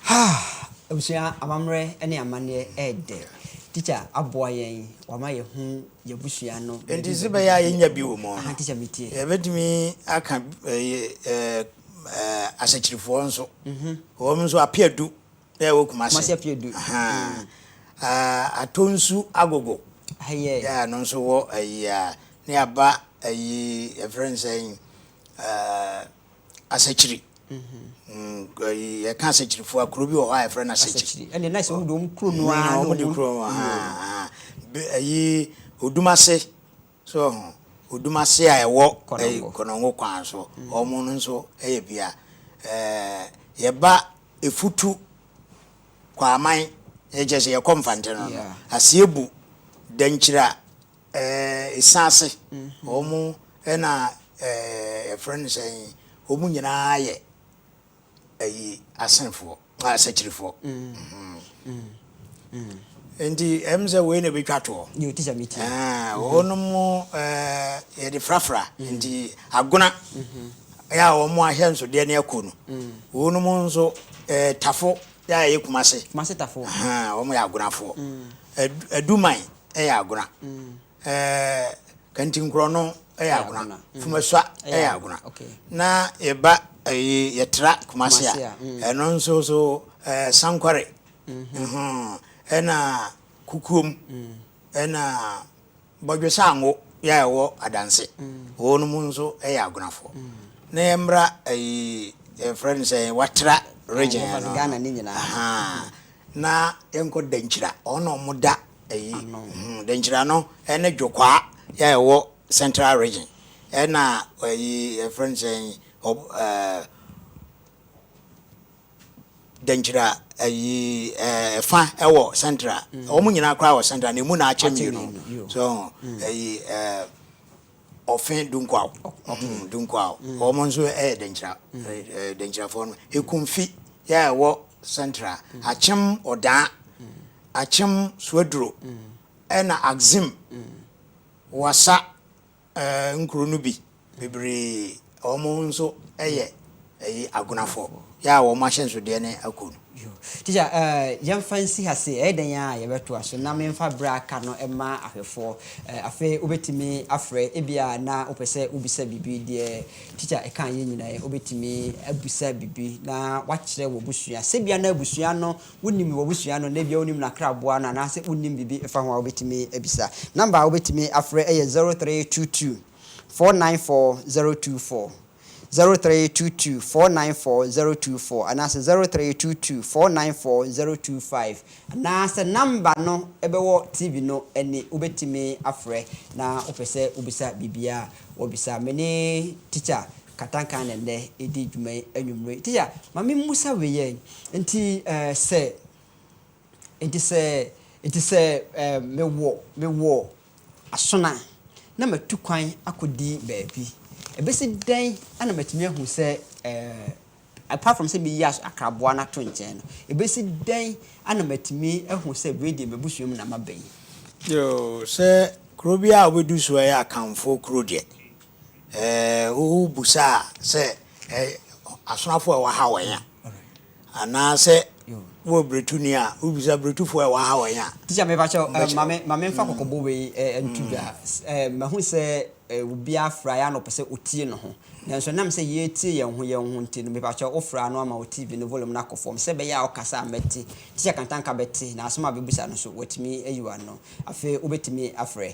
Haa!
Abusua, amammerɛ ne amanneɛ yɛ dɛ. Tikya aboa yɛn, wama yɛahu yɛn abusua no. Enti sɛ ɛbɛyɛ a yɛnya
bi wɔ mu no, yɛbɛtumi aka Asakyirifoɔ nso. Wɔn nso, Apeadu a ɛwɔ Kumase. Kumase Apeadu. Atonsu Agogo, ɛno
nso wɔ
ayi a, ne aba ayi, yɛfrɛ no sɛn? Asakyiri. Yɛka Asakyirifo a, kuro bi wɔ hɔ a yɛfrɛ no Asakyiri. Ɛne na sɛ wɔn de wɔn kuro
no ara na wɔn de kuro no ara.
Ɛyi Odumase so ho Odumase a ɛwɔ Kɔnɔngo kwan so. Wɔn no nso yɛ bia. Yɛba Efutu Kwaman ɛkyɛ sɛ yɛkɔ Mfante no no. Asiebu Dankyira Eh, ɛsiane ase, wɔn na eh, ɛfrɛ no sɛ wɔn nyinaa yɛ ayi asenfoɔ, asakyirifoɔ. Nti ɛm sɛ wei na ɛbɛtwa toɔ.
Wɔnom
yɛde frafra nti agona yɛ a wɔn ahyɛ nsodeɛ ne akɔ no. Wɔnom nso tafo yɛ a ɛyɛ kumase. Kumase tafo. Wɔn
yɛ agonafoɔ.
Aduman. yɛ agona, kantinkorɔ no yɛ agona, fumasua yɛ agona, na yɛba ɛyi yɛtra Kumasi a ɛno nso so sankware ɛna kukuom ɛna bɔdwe sango yɛ a ɛwɔ adanse wɔn mu nso yɛ agonafoɔ na yɛmmra ɛyi yɛfrɛ no sɛ watra region no
Na
yɛnkɔ Dankyira, hɔ na wɔda ayi, Dankyira no ne Dwokwaa yi a ɛwɔ Central Region, ɛna ayi yɛfrɛ no sɛn ɔb ɛɛ Dankyira ayi ɛɛ ɛfa ɛwɔ Central, wɔn nyinaa koraa wɔ Central na emu na akyɛ mmienu, so ayi ɛɛ. Ɔfe dunkwaw, ɔhoo dunkwaw, wɔn nso yɛ Denkyira, Denkyirafoɔ no, Ekumfi yɛ a ɛwɔ Central, Akyem Odaa, Akyem Suaduro, ɛna Axim, Wassa, nkuro no bi bebree. Wɔn nso yɛ agunafo yɛ a wɔn ahyɛnsodeɛ ne ako no. Yo. Teacher,
eh, yɛmfa nsi ha se, ɛyɛ dɛn a yɛbɛtoa so na memfa berɛ a aka no mma ahwɛfoɔ. Eh, afei wobɛtumi afrɛ, ebia na wopɛ sɛ wobisa biribi, deɛ Teacher ɛkaeɛ nyina ɛ, wobɛtumi abusa biribi na woakyerɛ w'abusua. Sɛ ebia na abusua no, wonim w'abusua no, na ebia wonim n'akraboa no, anaasɛ wonim biribi fa ho a, wobɛtumi abisa. Number a wobɛtumi afrɛ yɛ zero three two two. four nine four zero two four, zero three two two four nine four zero two four anaasɛ zero three two two four nine four zero two five anaasɛ namba no ɛbɛwɔ TV no ani wobɛtumi afrɛ na wopɛ sɛ wobisa biribiara a wɔbisa. Me ne Teacher Katanka na nnɛ redi dwuma yi anwummere yi. Teacher, ma me mmusa wei yɛ, nti eh, sɛ, nti sɛ, nti sɛ eh, mewɔ, mewɔ aso no a, na matu kwan akɔdi baabi. Ɛbɛsi dɛn na matumi ahu sɛ apart from sɛ mɛyi akraboa no ato nkyɛn no, ɛbɛsi dɛn na matumi ahu sɛ wei deɛ m'abusua mu na maba yi? Yoo,
sɛ kuro biara a wobɛdu so yɛ Akanfoɔ kuro deɛ, wobusa sɛ asonafo a ɛwɔ ha wɛn a, Anaasɛ wowɔ bretuni a, wobisa bretufo a ɛwɔ ha wɔ he a? Teacher me pakyɛw eh,
ma me ma me nfa kɔkɔbɔ wei eh, nto dwa eh, mahu sɛ eh, obiara fra yɛ a na ɔpɛ sɛ otie ne ho nanso ɛnam sɛ yɛretie yɛn ho yɛn ho nti no me pakyɛw wo fra no ama wo TV no volume no akɔ fam sɛ ɛbɛyɛ a ɔkasa a mɛte, Teacher Kantanka bɛte na asɛm a ɔbɛbisa no nso watumi ayi w'ano afei wobɛtumi afrɛ.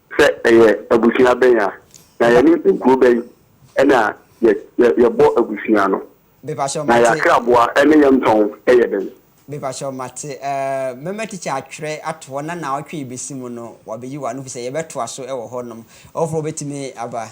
Sɛ ɛyɛ abusua bɛn a, na yɛne nkuro bɛn na yɛbɔ abusua no? Na yɛn
akraboa
ne yɛn ntɔn yɛ dɛn? Mepakyɛw mate
eh, mɛma teacher atwerɛ ato hɔ na naawɔtwe yi bɛsi mu no wabeyi wano fisɛ yɛbɛtoa so wɔ hɔ nom, ɔfoforɔ bɛtumi aba.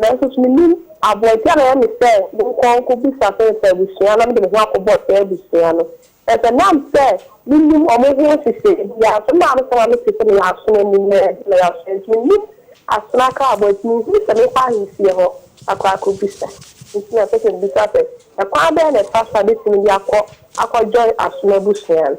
Nanso so minim aboa nti a na ɛyɛ me sɛ menkɔ nkobisa Sɛnsa abusua na mede me ho akɔbɔ saa abusua no? Na sɛ ɛnam sɛ minnim wɔn ho nhyehyɛe biara so no, na ano sɛ na mete sɛ meyɛ asono anim na ɛnde meyɛ asono nti minnim asono akraboa nti minhui sɛ menkɔ ahemfie hɔ akɔ akobisa. Nti na ɛsɛ sɛ mibisa sɛ, Ɛkwan bɛn na ɛfa so a metumi de akɔ akɔjoin asono abusua no?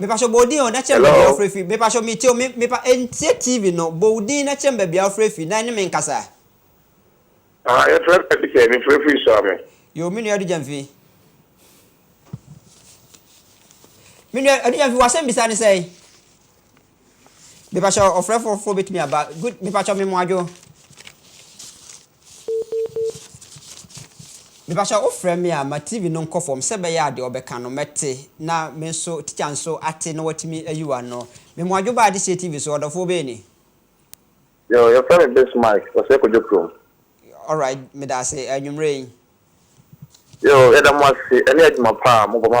Mepatwɔ bɔ odin o na kyerɛ me baabi a wofrɛ firi mepatwɔ metie o me mepa ntie TV no bɔ odin na kyerɛ me baabi a wofrɛ firi na ɛne me nkasa. Ah
yɛfrɛ me Adugya mefrɛ firi Suame. Yoo me nua Adugya
mfi. Me nua Adugya mfi w'asɛm bisa ne sɛn? Mepakyɛ ɔfrɛ fo fo betumi aba good mepakyɛ me mo adwo mepakyɛ wo frɛ me a ma TV no nkɔ fam sɛ bɛyɛ adeɛ ɔbɛka no mɛte na me nso teacher nso ate na watumi ayi wa no me mo adwo ba adesie TV so ɔdɔfoɔ bɛyɛ ni. Yo,
your friend is Base Mike, Osei Kojo Krom. Alright,
medase, anwummerɛ yi. Yo,
yɛda mo ase, ɛne adwuma pa a mobɔ ma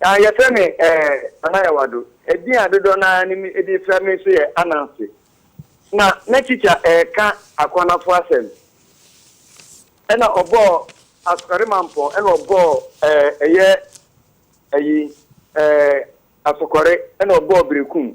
Na
yɛfrɛ me eh, Nana Yawado. Edin a dodoɔ no ara no me de frɛ me nso yɛ Ananse. Na na tikya reka Akwanafo asɛm, ɛna ɔbɔɔ Asokɔremampɔn, ɛna ɔbɔɔ eh, ɛyɛ ayi eh, Asokɔre, ɛna ɔbɔɔ Berekum.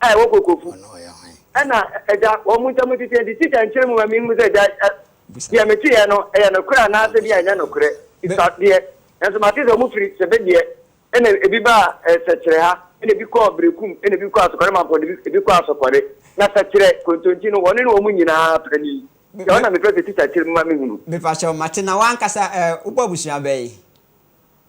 a ɛwɔ Kokofu. Ɛna ɛda wɔn ntam tete nti, tikya nkyerɛ mu ma minhu sɛ gya a deɛ meteeɛ no yɛ nokorɛ anaasɛ bi a ɛnyɛ nokorɛ. Bisa deɛ. Nanso mate sɛ wɔfiri Sebedeɛ ɛna ebi baa Sɛkyerɛ ha, ɛna ebi kɔɔ Berekum, ɛna ebi kɔɔ Asɔkɔre Mampɔn na ebi kɔɔ Asɔkɔre. Na Sɛkyerɛ, Kontonti no, wɔne ne wɔn nyinaa pɛ ni. Nti ɛhɔ na mepɛ sɛ tikya kyerɛ mu ma mehunu. Mepa kyɛw, mate. Na
w'ankasa ɛ, wobɔ abusua bɛn?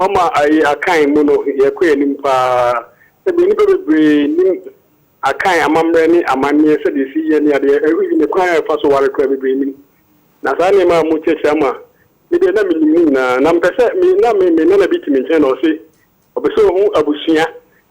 Ɔma ayi Akan mu no, yɛkɔ anim paa. Sɛdeɛ nnipa bebree nim Akan amammerɛ ne amanneɛ, sɛdeɛ ɛsi yɛ ne adeɛ, even ne kwan a ɛfa so ware koraa, bebree nnim. Na saa nneɛma a mokyerɛkyerɛ ama me deɛ, na menim ne nyinaa. Na mepɛ sɛ me na me nana bi te me nkyɛn na ɔse ɔpɛ sɛ ɔhu abusua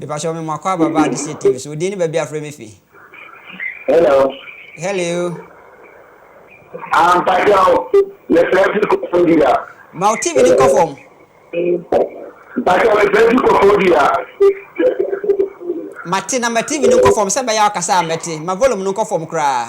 Mepakyɛw me moakɔ aba ba Adeseɛ TV so odin ne baabi afrɛ me fi. Hello. Hello. Ah
mpakyɛw mefrɛ fi Kofodua. Ma wo TV no nkɔ
fam. Mpakyɛw
mefrɛ fi Kofodua.
Mate na ma TV no nkɔ fam sɛ ɛbɛyɛ a ɔkasa a mɛte. Ma volume no nkɔ fam koraa.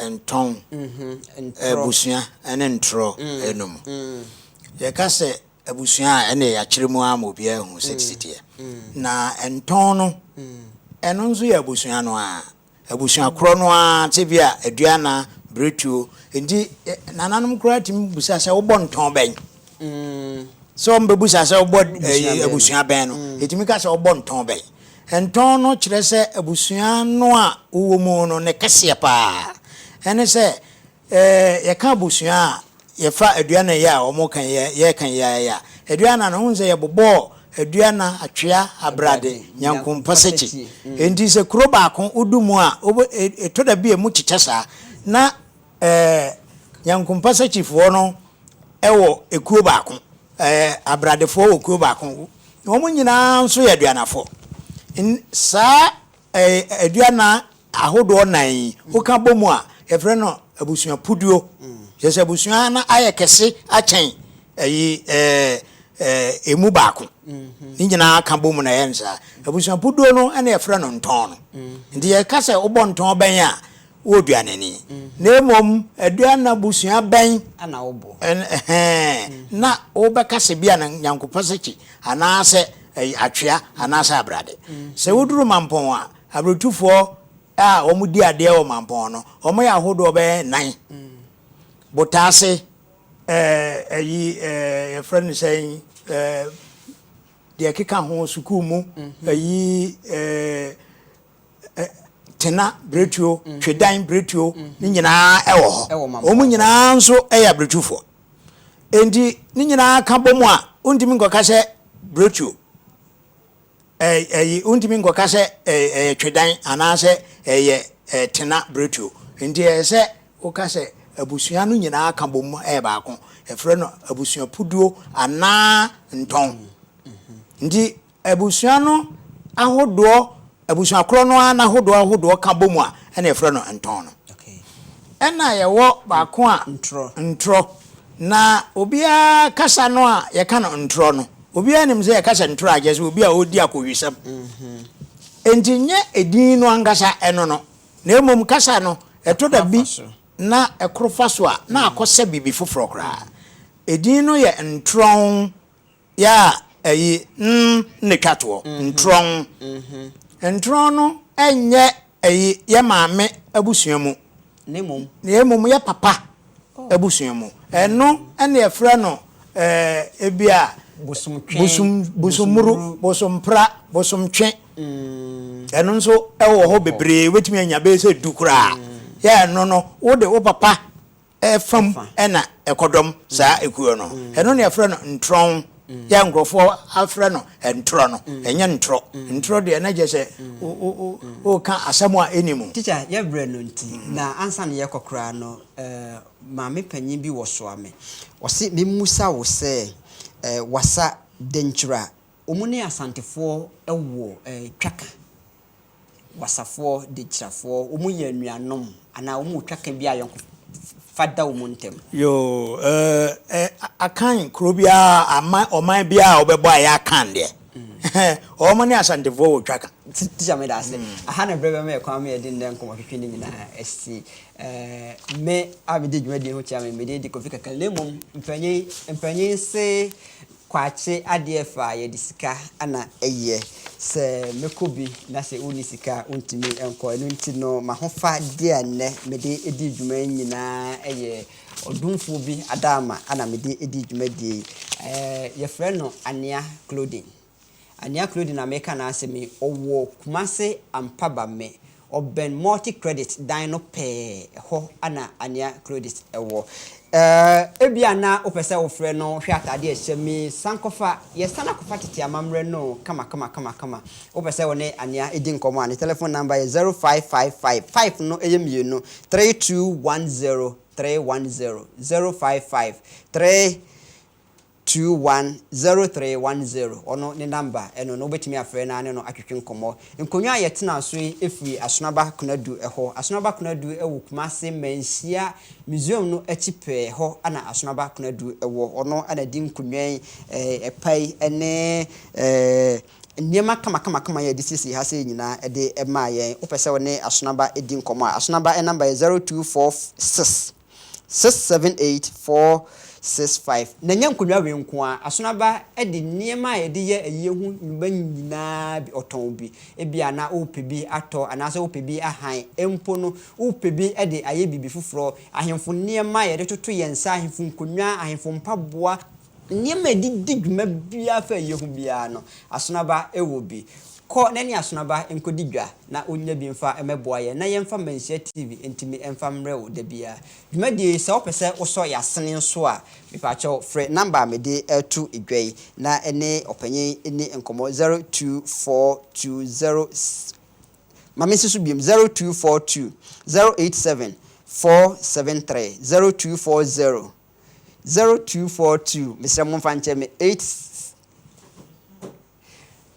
ntɔn, abusua ne ntorɔ no mu. Yɛka sɛ abusua a, ɛnneɛ yɛakyerɛ mu ara ma obiara ahu sɛ te teɛ. Na ntɔn no, ɛno nso yɛ abusua no ara, abusua korɔ no ara, te bi a aduana, biretuo. Nti nananom koraa tumi bisa sɛ wobɔ ntɔn bɛn? Sɛ wɔbɛbusa sɛ wobɔ abusua bɛn no, yɛtumi ka sɛ wobɔ ntɔn bɛn? Ntɔn no kyerɛ sɛ abusua no a wowɔ mu no ne kɛseɛ pa ara. Ɛne sɛ, yɛka abusua a, yɛfa aduanan yi a wɔka yi, yɛka yi ara yi a, aduanan no, wohu sɛ yɛbobɔɔ aduanan, atwea, abrade, nyankompa, sakyi. Enti sɛ kuro baako wodu mu a, ɛtɔ da bi a ɛmu kyekyɛ saa. Na. Ɛɛ, Nyankompa Sakyifoɔ no wɔ ekuo baako. Ɛɛ, Abradefoɔ wɔ kuo baako. Wɔn nyinaa nso yɛ Aduanafoɔ. N, saa ɛɛ, Aduana ahodoɔ nnan yi, woka bɔ mu a, yɛfrɛ no abusuapuduo. Kyerɛ sɛ abusua no ayɛ kɛse akyɛn ɛyi, ɛɛ, ɛɛ, emu baako. Ne nyinaa ka bɔ mu na ɛyɛ no saa. Abusuapuduo no na yɛfrɛ no ntɔn no. Nti yɛka sɛ wobɔ ntɔn bɛn a, Wowɔ aduan ani. Na mmom aduan no abusua bɛn. Na wobɔ?
Ɛhɛɛ,
na wobɛka sɛ bi a na Nyankopɔ sɛkye, anaasɛ ɛy atwea, anaasɛ abrade. Sɛ woduru mampɔn a, abrotufoɔ a wɔn di adeɛ wɔ mampɔn no, wɔn yɛ ahodoɔ bɛyɛ nnan. Botaase. Ɛɛ ɛyi ɛɛ yɛfrɛ no sɛn ɛɛ deɛ ɛkeka ho sukuu mu ɛyi ɛɛ tena bretuo, mm. twedan bretuo mm. ne nyinaa ɛwɔ hɔ wɔn nyinaa nso ɛyɛ abretufoɔ enti ne nyinaa ka bɔ mu a wontumi nkɔka sɛ bretuo ɛyi wontumi nkɔka sɛ ɛyɛ twedan anaasɛ ɛyɛ tena bretuo nti ɛyɛ sɛ woka sɛ abusua no nyinaa ka bɔ mu ɛyɛ baako ɛfrɛ no abusua puduo anaa ntɔn mm-hmm. nti Abusua no ahodoɔ, abusua korɔ no ara n'ahodoɔ ahodoɔ ka bɔ mu a, ɛna yɛfrɛ no ntɔn no. Ɛna yɛwɔ baako a, ntorɔ. Na obiara kasa no a yɛka no ntorɔ no, obiara nim sɛ yɛka sɛ ntorɔ a, kyerɛ sɛ obi a ɔredi akohwisɛm. Enti nyɛ edin no ankasa, ɛno no, na mmom kasa no, ɛtɔ da bi na ɛkoro fa so a, na akɔsɛ biribi foforɔ koraa. Edin no yɛ ntorɔn Yɛ a ɛyi n na ɛtwa toɔ, ntorɔn. Ntorɔn no nyɛ ɛyi yɛ maame abusua mu, na mmom yɛ papa abusua mu. Ɛno na yɛfrɛ no ebi a bosommuru, bosompra, bosomtwe. Ɛno nso wɔ hɔ bebree, wobɛtumi anya bɛyɛ sɛ du koraa. Yɛ a ɛno no, wode wo papa fa mu na ɛkɔdɔm saa ekuo no. Ɛno na yɛfrɛ no ntorɔn. Yɛ a nkurɔfoɔ afrɛ no ntorɔ no, ɛnyɛ ntorɔ. Ntorɔ deɛ na kyerɛ sɛ woreka asɛm a ɛnni mu. Teacher, yɛ berɛ no nti,
na ansa na yɛrekɔ koraa no, maame panin bi wɔsoa me. Ɔse memmisa wo sɛ, Wasa, Dankyira, wɔn ne Asantefoɔ wɔ twaka? wasafoɔ, dekyirafoɔ, wɔn yɛ anuanom anaa wɔn wɔ twaka bi a ayɔnkofa da wɔn ntam. Yoo,
eh, eh, Akan kuro biara, aman, ɔman biara a wɔbɛbɔ ayɛ Akan deɛ. Wɔn ne Asantefoɔ wɔ twaka. Teacher me da ase.
Aha na berɛ bɛma yɛ kwan ma yɛde nnɛ nkɔmmɔ twetwe ne nyinaa asi. Eh, me a mede dwumadie ho kyea me, mede di Kofi Kakal. Na mmom, mpanyin, mpanyin se Kwakye adeɛ fa a yɛde sika na ɛyɛ. Sɛ mɛkɔ bi na sɛ wonni sika a wontumi nkɔ. Ɛno nti no m'ahofadeɛ a nnɛ mede di dwuma yi nyinaa yɛ ɔdomfoɔ bi adaama na mede di dwumadie yi. Yɛfrɛ no Anea Clothing. Anea Claudine na mereka n'asɛm yi, ɔwɔ Kumase Ampabamme, ɔbɛn Multi Credit dan no pɛɛ, ɛhɔ na Anea Claudine wɔ. Eh, ebia na wopɛ sɛ wofrɛ no hwɛ atade a ɛhyɛ me yi, san kɔfa, yɛsan akɔfa tete amammerɛ no kamakama kamakama. Wopɛ sɛ wo ne Anea di nkɔmmɔ a, ne telephone number yɛ 0555, five no yɛ mmienu, 3210 310, 0553 Two one zero three one zero ɔno ne namba ɛno no wobɛtumi afrɛ na ne no atwetwe nkɔmmɔ. Nkonnwa a yɛtenaa so yi firi Asonaba Konadu hɔ. Asonaba Konadu wɔ Kumase Manhyia Museum no akyi pɛɛ hɔ na Asonaba Konadu wɔ. Ɔno na di nkonnwa yi, ɛpa yi ne nneɛma kamakamakama yi a yɛde siesie ha sei nyinaa de maa yɛn. Wopɛ sɛ wo ne Asonaba di nkɔmmɔ a, Asonaba namba yɛ zero two four six. Six seven eight four six five Na ɛnyɛ nkonnwa wei nko ara. Asono aba de nneɛma a yɛde yɛ ayie ho nnwuma nyinaa bi, ɔtɔn bi. Ebia na wopɛ bi atɔ anaasɛ wopɛ bi ahan. Mpo no, wopɛ bi de ayɛ biribi foforɔ. Ahemfo nneɛma a yɛde toto yɛn nsa, ahemfo nkonnwa, ahemfo mpaboa. Nneɛma a ɛde di dwuma biara fa a ɛyɛ hu biara no, asono aba wɔ bi. Kɔ na ɛne asono aba nkɔdi dwa na wonnya bi mfa mmɛboa yɛn na yɛmfa Manhyia TV ntumi mfa mmrɛ wo da biara. Dwumadie yi, sɛ wopɛ sɛ wosɔ y'asene nso a, mepakyɛw frɛ number a mede reto dwa yi na ne ɔpanyin nni nkɔmmɔ, 0242 0 Ma mensi so biom, 0242 087 473, 0240. 0242 Mesrɛ mo momfa nkyɛ me eight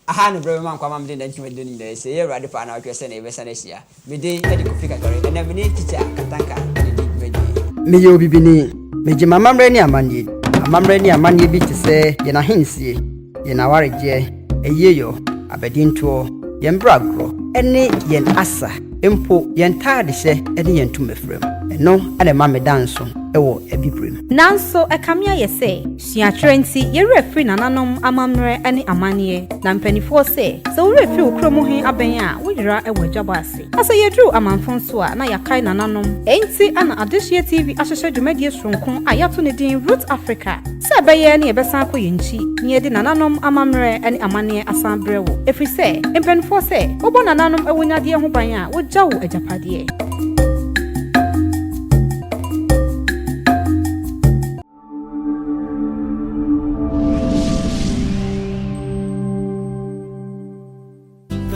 Aha ne berɛ mema nkwa ma mede nantwi madi no nyinaa asi. Ɛyɛ Awurade pɛ a na ɔtwerɛ sɛnea yɛbɛsan ahyia. Me din de Kofi Kakari. Ɛnɛ me ne Tikya Katanka na ɛdi dwumadie. Meyɛ obibini. Megye m'amammerɛ ne amanneɛ di. Amammerɛ ne amanneɛ bi te sɛ yɛn ahensie. yɛn awaregyeɛ, ayieɔ, abadintoɔ, yɛn bragorɔ, ne yɛn asa, mpo yɛn ntaadehyɛ ne yɛn ntomafiram. Ɛno na ɛma meda nso wɔ Abibirem. Nanso ɛkame
ayɛ sɛ suatwerɛ nti yɛn werɛ firi nananom amammerɛ ne amanneɛ. Na mpanimfoɔ sɛ, sɛ wo werɛ firi wo kuro mu he abɛn a, woyera wɔ adwabɔ ase. Na sɛ yɛduru amamfo nso a, na yɛakae nananom. Enti na Adehyeɛ TV ahyehyɛ dwumadie soronko a yɛato ne din Roots Africa. Sɛ ɛbɛyɛ na yɛbɛsan akɔ yɛn nkyi na yɛde nananom amammerɛ ne amanneɛ asan abrɛ wo, ɛfiri sɛ mpanimfoɔ sɛ wobɔ nananom awunyadeɛ ho ban a, wogya wo agyapadeɛ.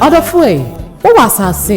Ɔdɔfoɔ ei, wowɔ asase.